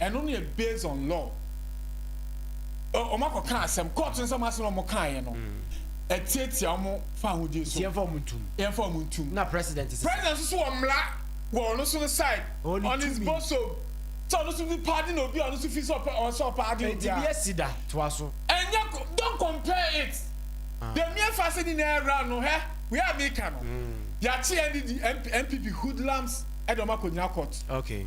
Ɛno no yɛ based on law. Wɔn akɔ ka asɛm, court no sɛ wɔn asɛm na wɔn kaa yɛ no, ɛtiatia wɔn fahodie so. Nti yɛn fa wɔn ntum. Yɛn fa wɔn ntum. Na president sisi. President nso so wɔ mmara wɔ ɔno so no side. Ɔne tumi. On his bosom. Sɛ ɔno so bi paadi na obi a ɔno so fi sɛ ɔpɛ ɔwɔ sɛ ɔpaadi obi a. Nti bi esi da toa so. Ɛnyɛ don't compare it. Ah. The mere fact sɛ ni na ɛra no hɛ wei a mi ka no. Mm. Yɛakye NDD, NPP hoodlums ɛde wɔn akɔ nyina court. Okay.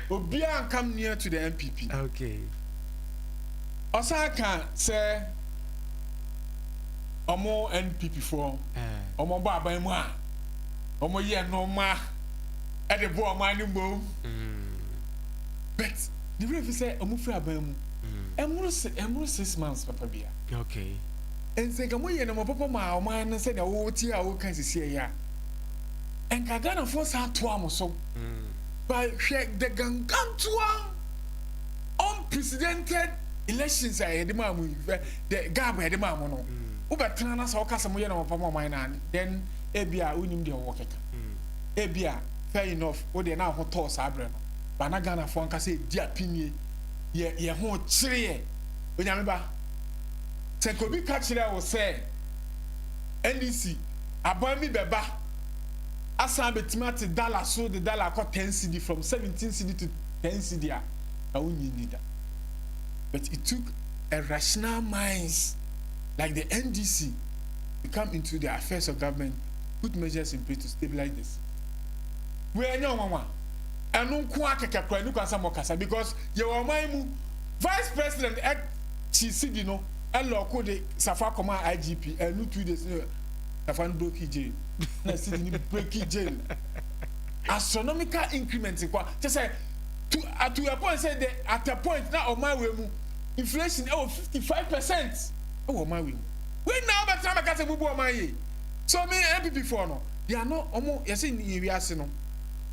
Obiara and come near to the NPP. Okay. Ɔsan ka sɛ ɔmo NPP foɔ ɔmo bɔ aban mu a ɔmo yɛ nnoɔma ɛde bɔ ɔmo ani mmom. But ne werɛ fi sɛ ɔmo firi aban mu ɛnworo se ɛnworo six months papa bia. Okay. Nti nka mo yɛ nnoɔma papa ma ɔman no sɛdeɛ wotie a woka sisi ɛyɛ a nka Ghanafoɔ saa toa mo so. But hwɛ the gangantoa unprecedented elections a yɛde maa mo yi, hwɛ the gab a yɛde maa mo no. Wobɛtena na sɛ woka sɛ moyɛ na wɔpam ɔman no a, then ebi a wonim deɛ wɔwɔ kɛka. Ebi a fair enough, wo deɛ na ho tɔɔ saa berɛ no. Ba na Ghanafoɔ ankasa ɛdi apinie, yɛ yɛ ho kyereɛ. Onyame ba, sɛ nka obi ka kyerɛɛ wo sɛ NDC aban bi bɛba, asan abɛtumi ate dala so de dala akɔ ten cedi from seventeen cedi to ten cedi a na wonnye nni da but it took a rational minds like the NDC to come into the affairs of government put measures in place to stabilize the city wei ɛnyɛ ɔnwanwa ɛno nko akɛkɛ kora ne kwan sɛ mɔkasa because yɛwɔ ɔman mu vice president ɛkyi cedi no ɛlɔko de safa kɔma IGP ɛnu two days Ɛfa no broki gyen na sidi no breki gyen astronomical increment nkwa kyɛ sɛ to ato a point sɛ the at a point na ɔman wei mu inflation ɛwɔ fifty five percent ɛwɔ ɔman wei mu wei na ɔbɛtena bɛka sɛ bubu ɔman yie so me npp foɔ no deɛ ano ɔmo yɛsɛ yɛ wiase no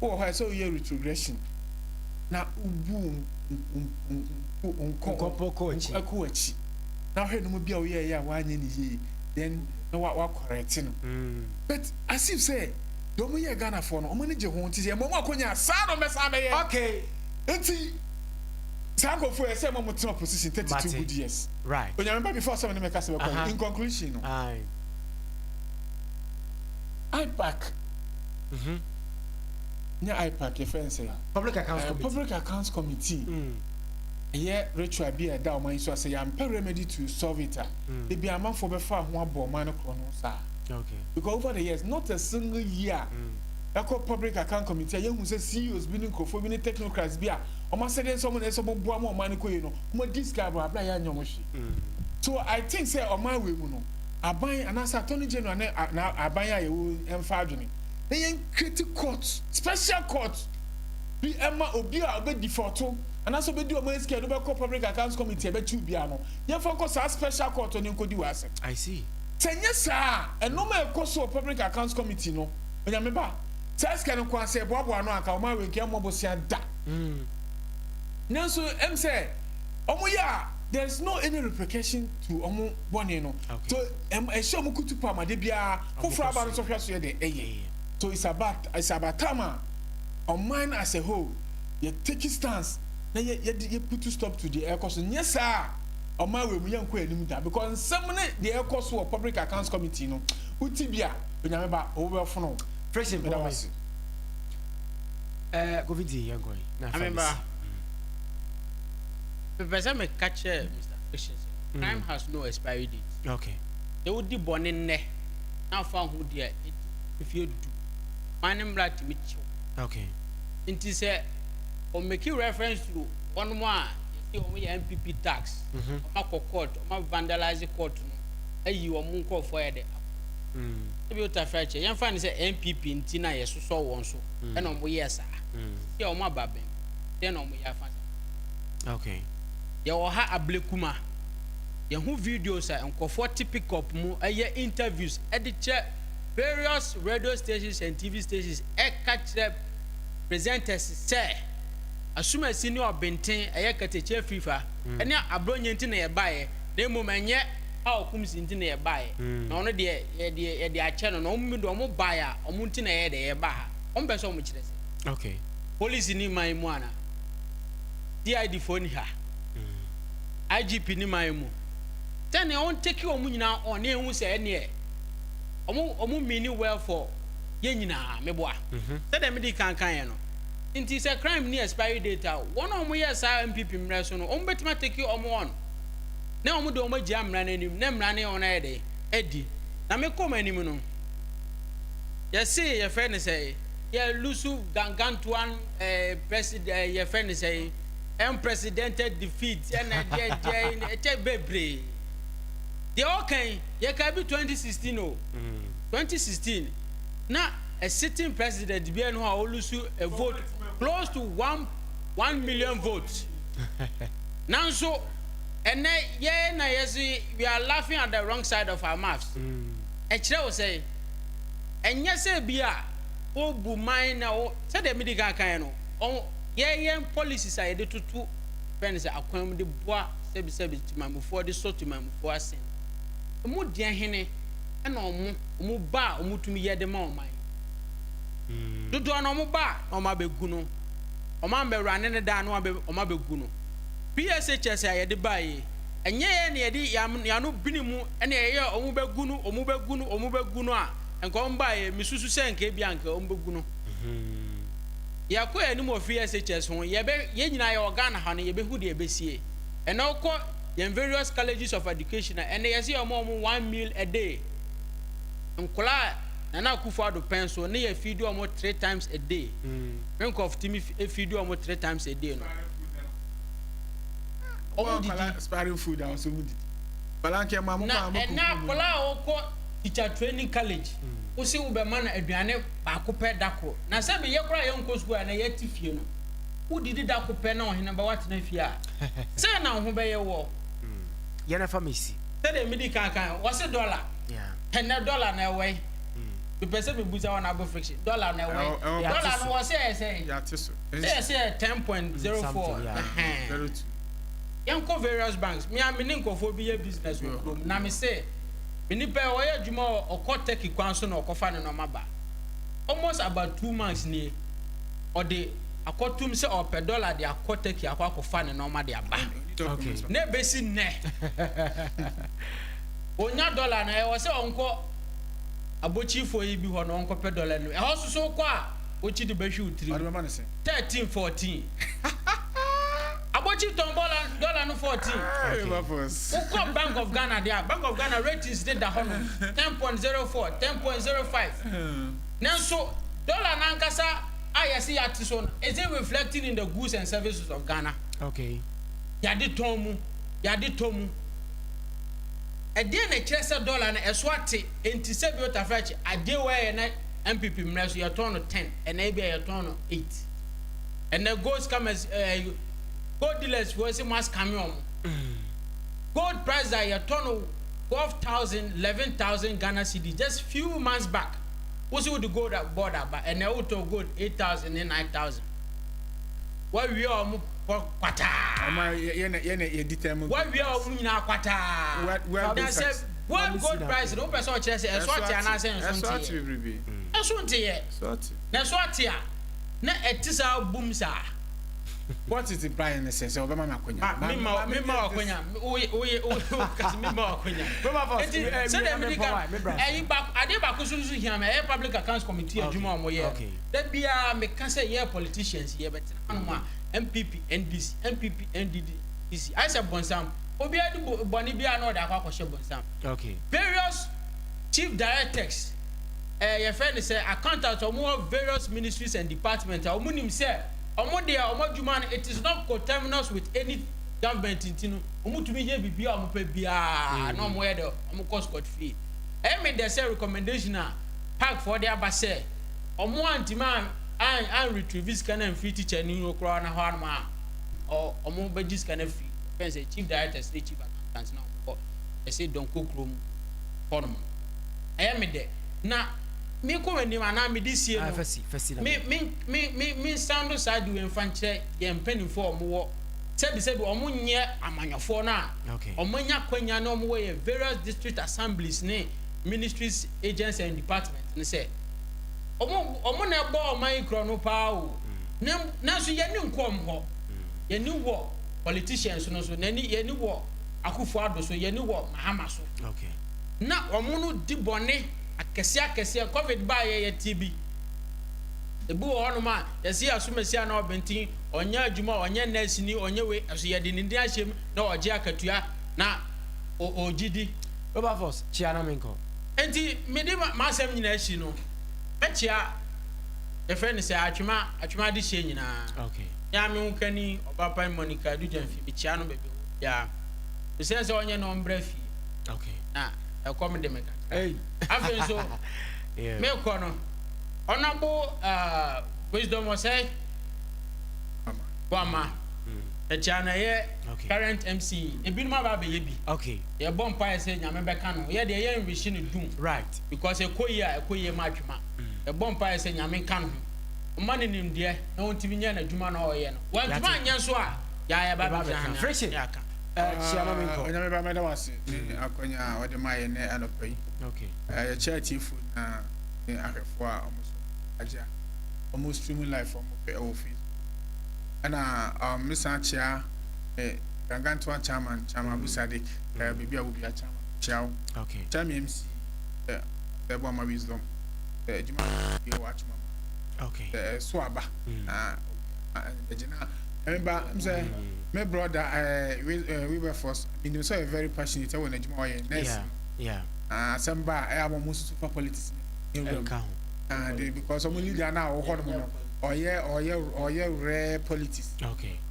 wɔ hɔ a ɛsɛ ɔyɛ retrogression na ubu nkɔ nkɔ akyi na hwɛ no mu bi a ɔyɛ ɛyɛ a wanyɛ ne yie then na wa wa correct no mm. but as if sɛ deɛ ɔmo yɛ Ghana foɔ no ɔmo ani gye ho nti sɛ ɛmɔ ɔmo akonya saa na ɔmo bɛsa abɛyɛ okay nti saa nkorɔfoɔ yɛ sɛ ɛmɔ ɔmo tena position thirty two good years right onyame ba before sɛ ɔmo ne mɛka sɛ bɛkɔ uh-huh. in conclusion no Aye. IPAC mm-hmm. nyɛ IPAC yɛ fɛn sɛ public accounts uh, committee public accounts committee mm. ɛyɛ ritual bi a ɛda ɔmo anyi so asɛ yɛn ampɛ remedy to solve it a. Ah. da bi amanfoɔ bɛfaa ho abɔ ɔman no korɔ no saa because over the years not a single year ɛkɔ public account committee a yɛhu sɛ CEOs bi ne nkurɔfoɔ bi ne technocrats bi a wɔn asɛdeɛ nsɛ wɔn na ɛsɛ wɔn boa ma ɔman no kɔ yie no wɔn adi sika abɔ abira yɛ anyɛ wɔn hwee so I think sɛ ɔman wei mu no aban anaasɛ attorney general ne aban a yɛwɔ mfa adwene na yɛn create court special court bi ɛma obi a ɔbɛ defaulto anaasɛ ɔbɛdi ɔman sika no bɛkɔ public accounts committee ɛbɛkyi obiara no yɛmfa nkɔ saa Special Court hɔ na ɛnkɔdi w'asɛm. I see. Sɛ ɛnyɛ saa a, nnoɔma a ɛkɔ so wɔ Public Accounts Committee no, Onyame ba, saa sika no nko ara, sɛ yɛboaboa ano a, anka ɔman wei nka ɛmmɔ bosea da. Nanso, ɛm sɛ wɔn yɛ a, there is no any repercussion to wɔn bɔne no. So, ɛm, ɛhyɛ wɔn kutu pa ma de biara foforɔ aba no nso hwɛ so yɛ dɛ ɛyɛ. So, it's about, it's about time a, ɔman as a whole, yɛ take stance na yɛ yɛde yɛ putu stop to deɛ ɛrekɔ so nyɛ saa a ɔman wei mu yɛn nkɔ anim da because nsɛm ne deɛ ɛrekɔ so wɔ public accounts committee no uti bi a onyame ba ɔwɔ bɛ fono fresh and boy ɛɛ eh, kofi ti yɛn kɔ yi na fa mi si. mepɛ sɛ meka kyerɛ mr fiction sɛ mm. crime has no expiry date okay sɛ wodi bɔne nnɛ na afa ho di a ɛdi mfeɛ du ma ne mmara tumi kyew okay nti sɛ Ɔmo make reference to wɔnom a yɛse ɔmo yɛ NPP thugs, ɔmo akɔ court, ɔmo a vandalise court no, ayi ɔmo nkorɔfoɔ ayɛ dɛ akofoɔ. Ebia Otafiah kyɛ, yɛmfa no sɛ NPP nti na yɛsosɔ wɔn so na ɔmo yɛɛ saa. Seesei a ɔmo aba bem, deɛn na ɔmo yɛ afa saa nkorɔfoɔ no ho? Yɛwɔ ha Ablekuma, yɛhu videos a nkorɔfoɔ te pickup mu yɛ interviews de kyerɛ various radio stations and TV stations ɛka kyerɛ, presenters sɛ asumasi ne ɔbenten, ɛyɛ katakyi afirifa ne aborɔnyɛ nti na yɛbaeɛ na mmom ɛnyɛ Paul Kumsi nti na yɛbaeɛ, na ɔno deɛ yɛde yɛde akyɛ no, na wɔn deɛ wɔn baeɛ a wɔn nti na yɛyɛ deɛ yɛbaa ha. Wɔn pɛ sɛ wɔn kyerɛ sɛ. Okay. Police ni man mu ana? CID foɔ ni ha? Mm. IGP ni man mu? Sɛnea wɔn take wɔn nyinaa on ne ehu sɛ ɛneɛ wɔn wɔn mean well for yɛn nyinaa meboa. Sɛdeɛ me dii kan kaeɛ no nti sɛ crime ni expiry date a wɔn a wɔn yɛɛ saa NPP mmerɛ so no wɔn bɛtumi atake wɔn on na wɔn deɛ wɔn agyina mmara no anim na mmara ne wɔn ayɛ dɛn adi na me kɔ wɔn anim no yɛse yɛfrɛ ne sɛ yɛ lusu gangantuan eh, president eh, yɛfrɛ ne sɛ unprecedented defeat ɛna deɛ deɛ ɛkyɛ bebree deɛ ɔkan yɛka bi 2016 o. 2016, na a sitting president biara nni hɔ a ɔlusu a vote close to one one million votes. Nanso ɛnɛ yɛn na yɛsi we are laughing at the wrong side of our mouths. Ɛkyerɛ wo sɛ ɛnyɛ sɛ bi a wobu man na wo sɛdeɛ medi kan kan no yɛyɛn policies a yɛde toto fɛn sɛ akwan mu de boa sɛbisɛbi timamufoɔ de sɔ timamufoɔ asen. Emu deɛ hene na wɔn wɔn ba a wɔtumi yɛ de ma ɔman. Dodoɔ no wɔn ba na wɔn abɛgu no wɔn ammɛwurane no daa na wɔn wɔn abɛgu no. PSHS a yɛde baeɛ yi, ɛnyɛ yɛn na yɛde yɛn yɛn ano bene mu na yɛyɛ wɔn bɛgu no wɔn bɛgu no wɔn bɛgu no a nka wɔn baeɛ mesusu sɛ nka ebia nka wɔn bɛgu no. Yɛkɔ yɛn anim wɔ PSHS ho yɛbɛ yɛn nyinaa yɛwɔ Ghana ha no yɛbɛhu deɛ ɛbɛsie. Ɛnna wokɔ yɛn various colleges of education a ɛnɛ yɛsɛ yɛn wɔn one meal a day nkɔla a nana akufo ado pɛn so ne yɛ feed wɔn three times a day ne nkɔfo timi feed wɔn three times a day no wɔn didi expiring food a wɔn didi nkɔla nkɛ maa mo kɔ amo kɔ na ɛnɛ nkɔla a wɔkɔ teacher training college wosi wobɛma no aduane baako pɛ da koro na sɛ meyɛ koraa yɛ nkɔ sukuu a na yɛ ti fie no. wodidi da ko pɛ na ɔhene ba watena fie a, sɛn na wo ho bɛyɛ woɔ? Mm, yɛ na fa me si. Sɛdeɛ medi kan kan no, wɔse dɔla. Yeah. Ɛnɛ dɔla no ɛwɔ he? Mm. Mepɛ sɛ mebusa wɔn abo friction. Dɔla no ɛwɔ he? Ɛwɔ- Dɔla no wɔ sɛ ɛyɛ sɛ he? Yɛate so. Sɛ yɛse yɛ 10.04. Something, yeah. Ɛhɛn. Very true. Yɛnkɔ various banks. Me a me ne nkurɔfoɔ bi yɛ business wɔ kurom na mese me nipa yi ɔyɛ adwuma wɔ ɔkɔ Turkey kwan so na ɔkɔfa ne nneɛma ba. Almost about two months nie. ɔde akɔtom sɛ ɔrepɛ dɔla de akɔ Turkey akɔ akɔfa ne nneɛma de aba. Na ebesi nnɛ, onya dɔla no, ɛwɔ sɛ ɔnkɔ abokyirifoɔ yi bi hɔ na ɔnkɔpɛ dɔla no. Ɛhɔ soso wokɔ a, wokyi de bɛhwe wo tiri mu. Thirteen, fourteen. Abokyiri tɔn bɔla dɔla no fourteen. Wokɔ Bank of Ghana de a, Bank of Ghana ratings de da hɔ no, ten point zero four, ten point zero five. Nanso, dɔla no ankasa a yɛse yɛate so no, is it reflecting in the goods and services of Ghana? Okay. Yɛade tɔn mu, yɛade tɔ mu. Ɛdeɛn na ɛkyerɛ sɛ dɔla no ɛso ate? Enti sɛbi Otaferakyi, adeɛ wei a yɛ na NPP mmerɛ so yɛtɔn no ten, ɛnɛ ebia yɛtɔn no eight. Ɛnɛ gold scammers, eh, gold dealers foɔ se mo ascame wɔn. Gold price a yɛtɔ no twelve thousand, eleven thousand Ghana cedi just few months back. Wo se wode gold board aba, ɛnɛ wotɔɔ gold eight thousand ne nine thousand. Woawia wɔn pɔ kwataa. Ɔma yɛ na yɛ na yɛ determine. Woawia wɔn nyinaa kwataa. Na sɛ world gold price no wopɛ sɛ ɔkyerɛ sɛ ɛso ate anaasɛ nso nteɛ. Ɛso nteɛ. Na ɛso ate a na ɛte saa bum saa. What is the buying ne sɛ sɛ ɔbɛma me akwanya. Ma me ma me ma akwanya. Oye oye oye kasi me ma akwanya. Me ma fa eti sɛ dɛ me di ka ɛyi ba ade ba ko so so hia me ɛyɛ public accounts committee adwuma ɔmo yɛ. Da bia me ka sɛ yɛ politicians yɛ bɛ tena no ma NPP NDC NPP NDD DC ayɛ sɛ bonsam obi adi bɔne bia na ɔde akɔ akɔhyɛ bonsam. Various chief directors ɛɛ yɛfɛ ne sɛ accountants ɔmo wɔ various ministries and departments a ɔmo nim sɛ Ɔmo deɛ ɔmo adwuma no it is not coterminous with any government nti no ɔmo tumi yɛ biribiaa ɔmo pɛ biaa na ɔmo yɛ dɛ ɔmo kɔ scot free. Ɛyɛ me dɛ sɛ recommendation a park foɔ de aba sɛ ɔmo antumi an an retrieve sika no amfiri teacher no hɔ koraa na hɔ ara nom a ɔmo bɛgye sika no afiri bɛn sɛ chief directors ne chief accountants na ɔmo kɔ ɛse Donkor kurom hɔ nom. Ɛyɛ me dɛ na. Menkɔ w'anim anaa mede sie no. Me, me, me, me, mensan do saa de wei mfa nkyerɛ yɛn mpanimfoɔ a wɔwɔ sɛbisɛbi wɔn nyɛ amanyɔfoɔ no a wɔn anya akwanya ne wɔn wɔ yɛn various district assemblies ne ministries agencies and departments no sɛ wɔn, wɔn na ɛbɔ ɔman yi korɔ no paa o. Na, nanso yɛn ani nkɔ wɔn hɔ. Yɛn ani wɔ politicians no so, n'ani, yɛn ani wɔ Akufo-Addo so, yɛn ani wɔ Mahama so. Na wɔn no di bɔne. Akɛseɛ akɛseɛ, covid baeɛ yɛtee bi. Ebi wɔ hɔnom a yɛse yɛ asomasia na ɔbenten, ɔnyɛ adwuma, ɔnyɛ nurse ni, ɔnyɛ wei nanso yɛde ne din ahyem na ɔgye akatua na ɔgye di. Wilberforce, kyea na menkɔ. Enti mede m'asɛm nyinaa asi no, mɛkyea yɛfrɛ no sɛ Atwema, Atwema adehyeɛ nyinaa. Okay. Me ara me hokani Ɔbapan Monica Adu Gyamfi, mekyea no baabi a ɔwɔ biara. Mesrɛ sɛ ɔnyɛ na ɔmmra fie. Okay. Na ɛkɔm de me kakra. Afei nso, merekɔ no, Honorable uh, Wisdom Osei Boamah, ɛkyɛ na ɛyɛ current MC, ebinom aba abɛyɛ bi. Yɛbɔ mpaeɛ sɛ Nyame bɛka no, yɛ deɛ yɛ nwehye no dum. Because ɛkɔ yie a ɛkɔ yie ma atwema. Yɛbɔ mpaeɛ sɛ Nyame nka no ho. Ɔma no nimdeɛ na ɔntumi nyɛ n'adwuma na ɔyɛ no. Wantumi anyɛ nso a, yɛayɛ ba bɛfrɛ no. onyame ba mɛda wase ne mm. akwanya a ɔde ma yɛ nɛ anɔpa yi yɛkyɛ atiefo nyinaa ne ahwɛfo a ɔmo so agya ɔmo stream life ɔmo pɛ ɛwɔ facebook ɛna um, mesan kyea eh, gangantoa chairman chairman abu sadik mm. eh, biribi a wobia chairman kyea wo kyɛ me mc eh, ɛbɔ ama wisdom adwuma eh, yɛ wɔ atwoma mu eh, so aba mm. na ɛgyina Ɛba sɛ me brɔda Wilberforce menim sɛ ɔyɛ very passionate ɛwɔ n'adwuma ɔyɛ nurse asɛm ba a ɛyɛ wɔn mo susu fa politics nka ho de because wɔn leader no a wɔwɔ hɔ nom no ɔyɛ ɔyɛ ɔyɛ rare politics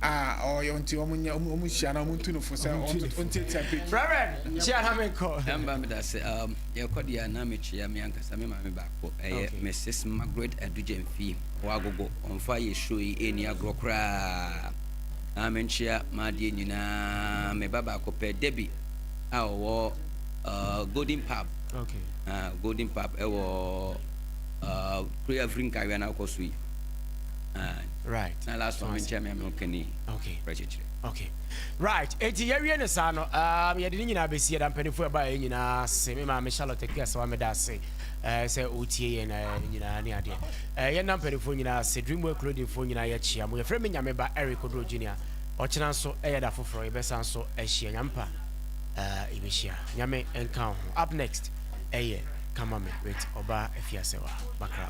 a ɔyɛ nti wɔn nyɛ wɔn hyia na wɔn tu no fo sɛ wɔn tiatia pe. Reverend hyia na mi kɔ. Ɛnba mi da se yɛ kɔ deɛ na mi kyia mi ankasa mi maame baako ɛyɛ Mrs Margaret Adugye Nfie. W'agogo ɔmfa yɛ show yi ɛnni agorɔ koraa aa menkyea m'adeɛ nyinaa me ba baako pɛ Debbie a ɔwɔ uh, Golden Pub okay. uh, Golden Pub ɛwɔ uh, kuro afiri nkawea na wokɔ so yi uh, right. na last one menkyea me ameno kani okay. kyekyere okay. right eti yɛwie ne saa no um, yɛde ne nyinaa bɛsi yɛda mpanimfoɔ ɛbaeɛ nyinaa se me maame Charlotte Akuasawa meda ase ɛɛ sɛ ɔretie yɛn na ɛɛ nyinaa ne adeɛ ɛɛ yɛn na mpanimfoɔ nyinaa ase dreamwear clothingfoɔ nyinaa yɛkyia mo yɛfrɛ me nyame ba eric oduro junior ɔkyena nso ɛyɛ da foforɔ yɛbɛsan nso ahyia nyame pa ɛɛ yɛbɛhyia nyame nka ho up next ɛyɛ kama me with ɔbaa afiasɛwa bakra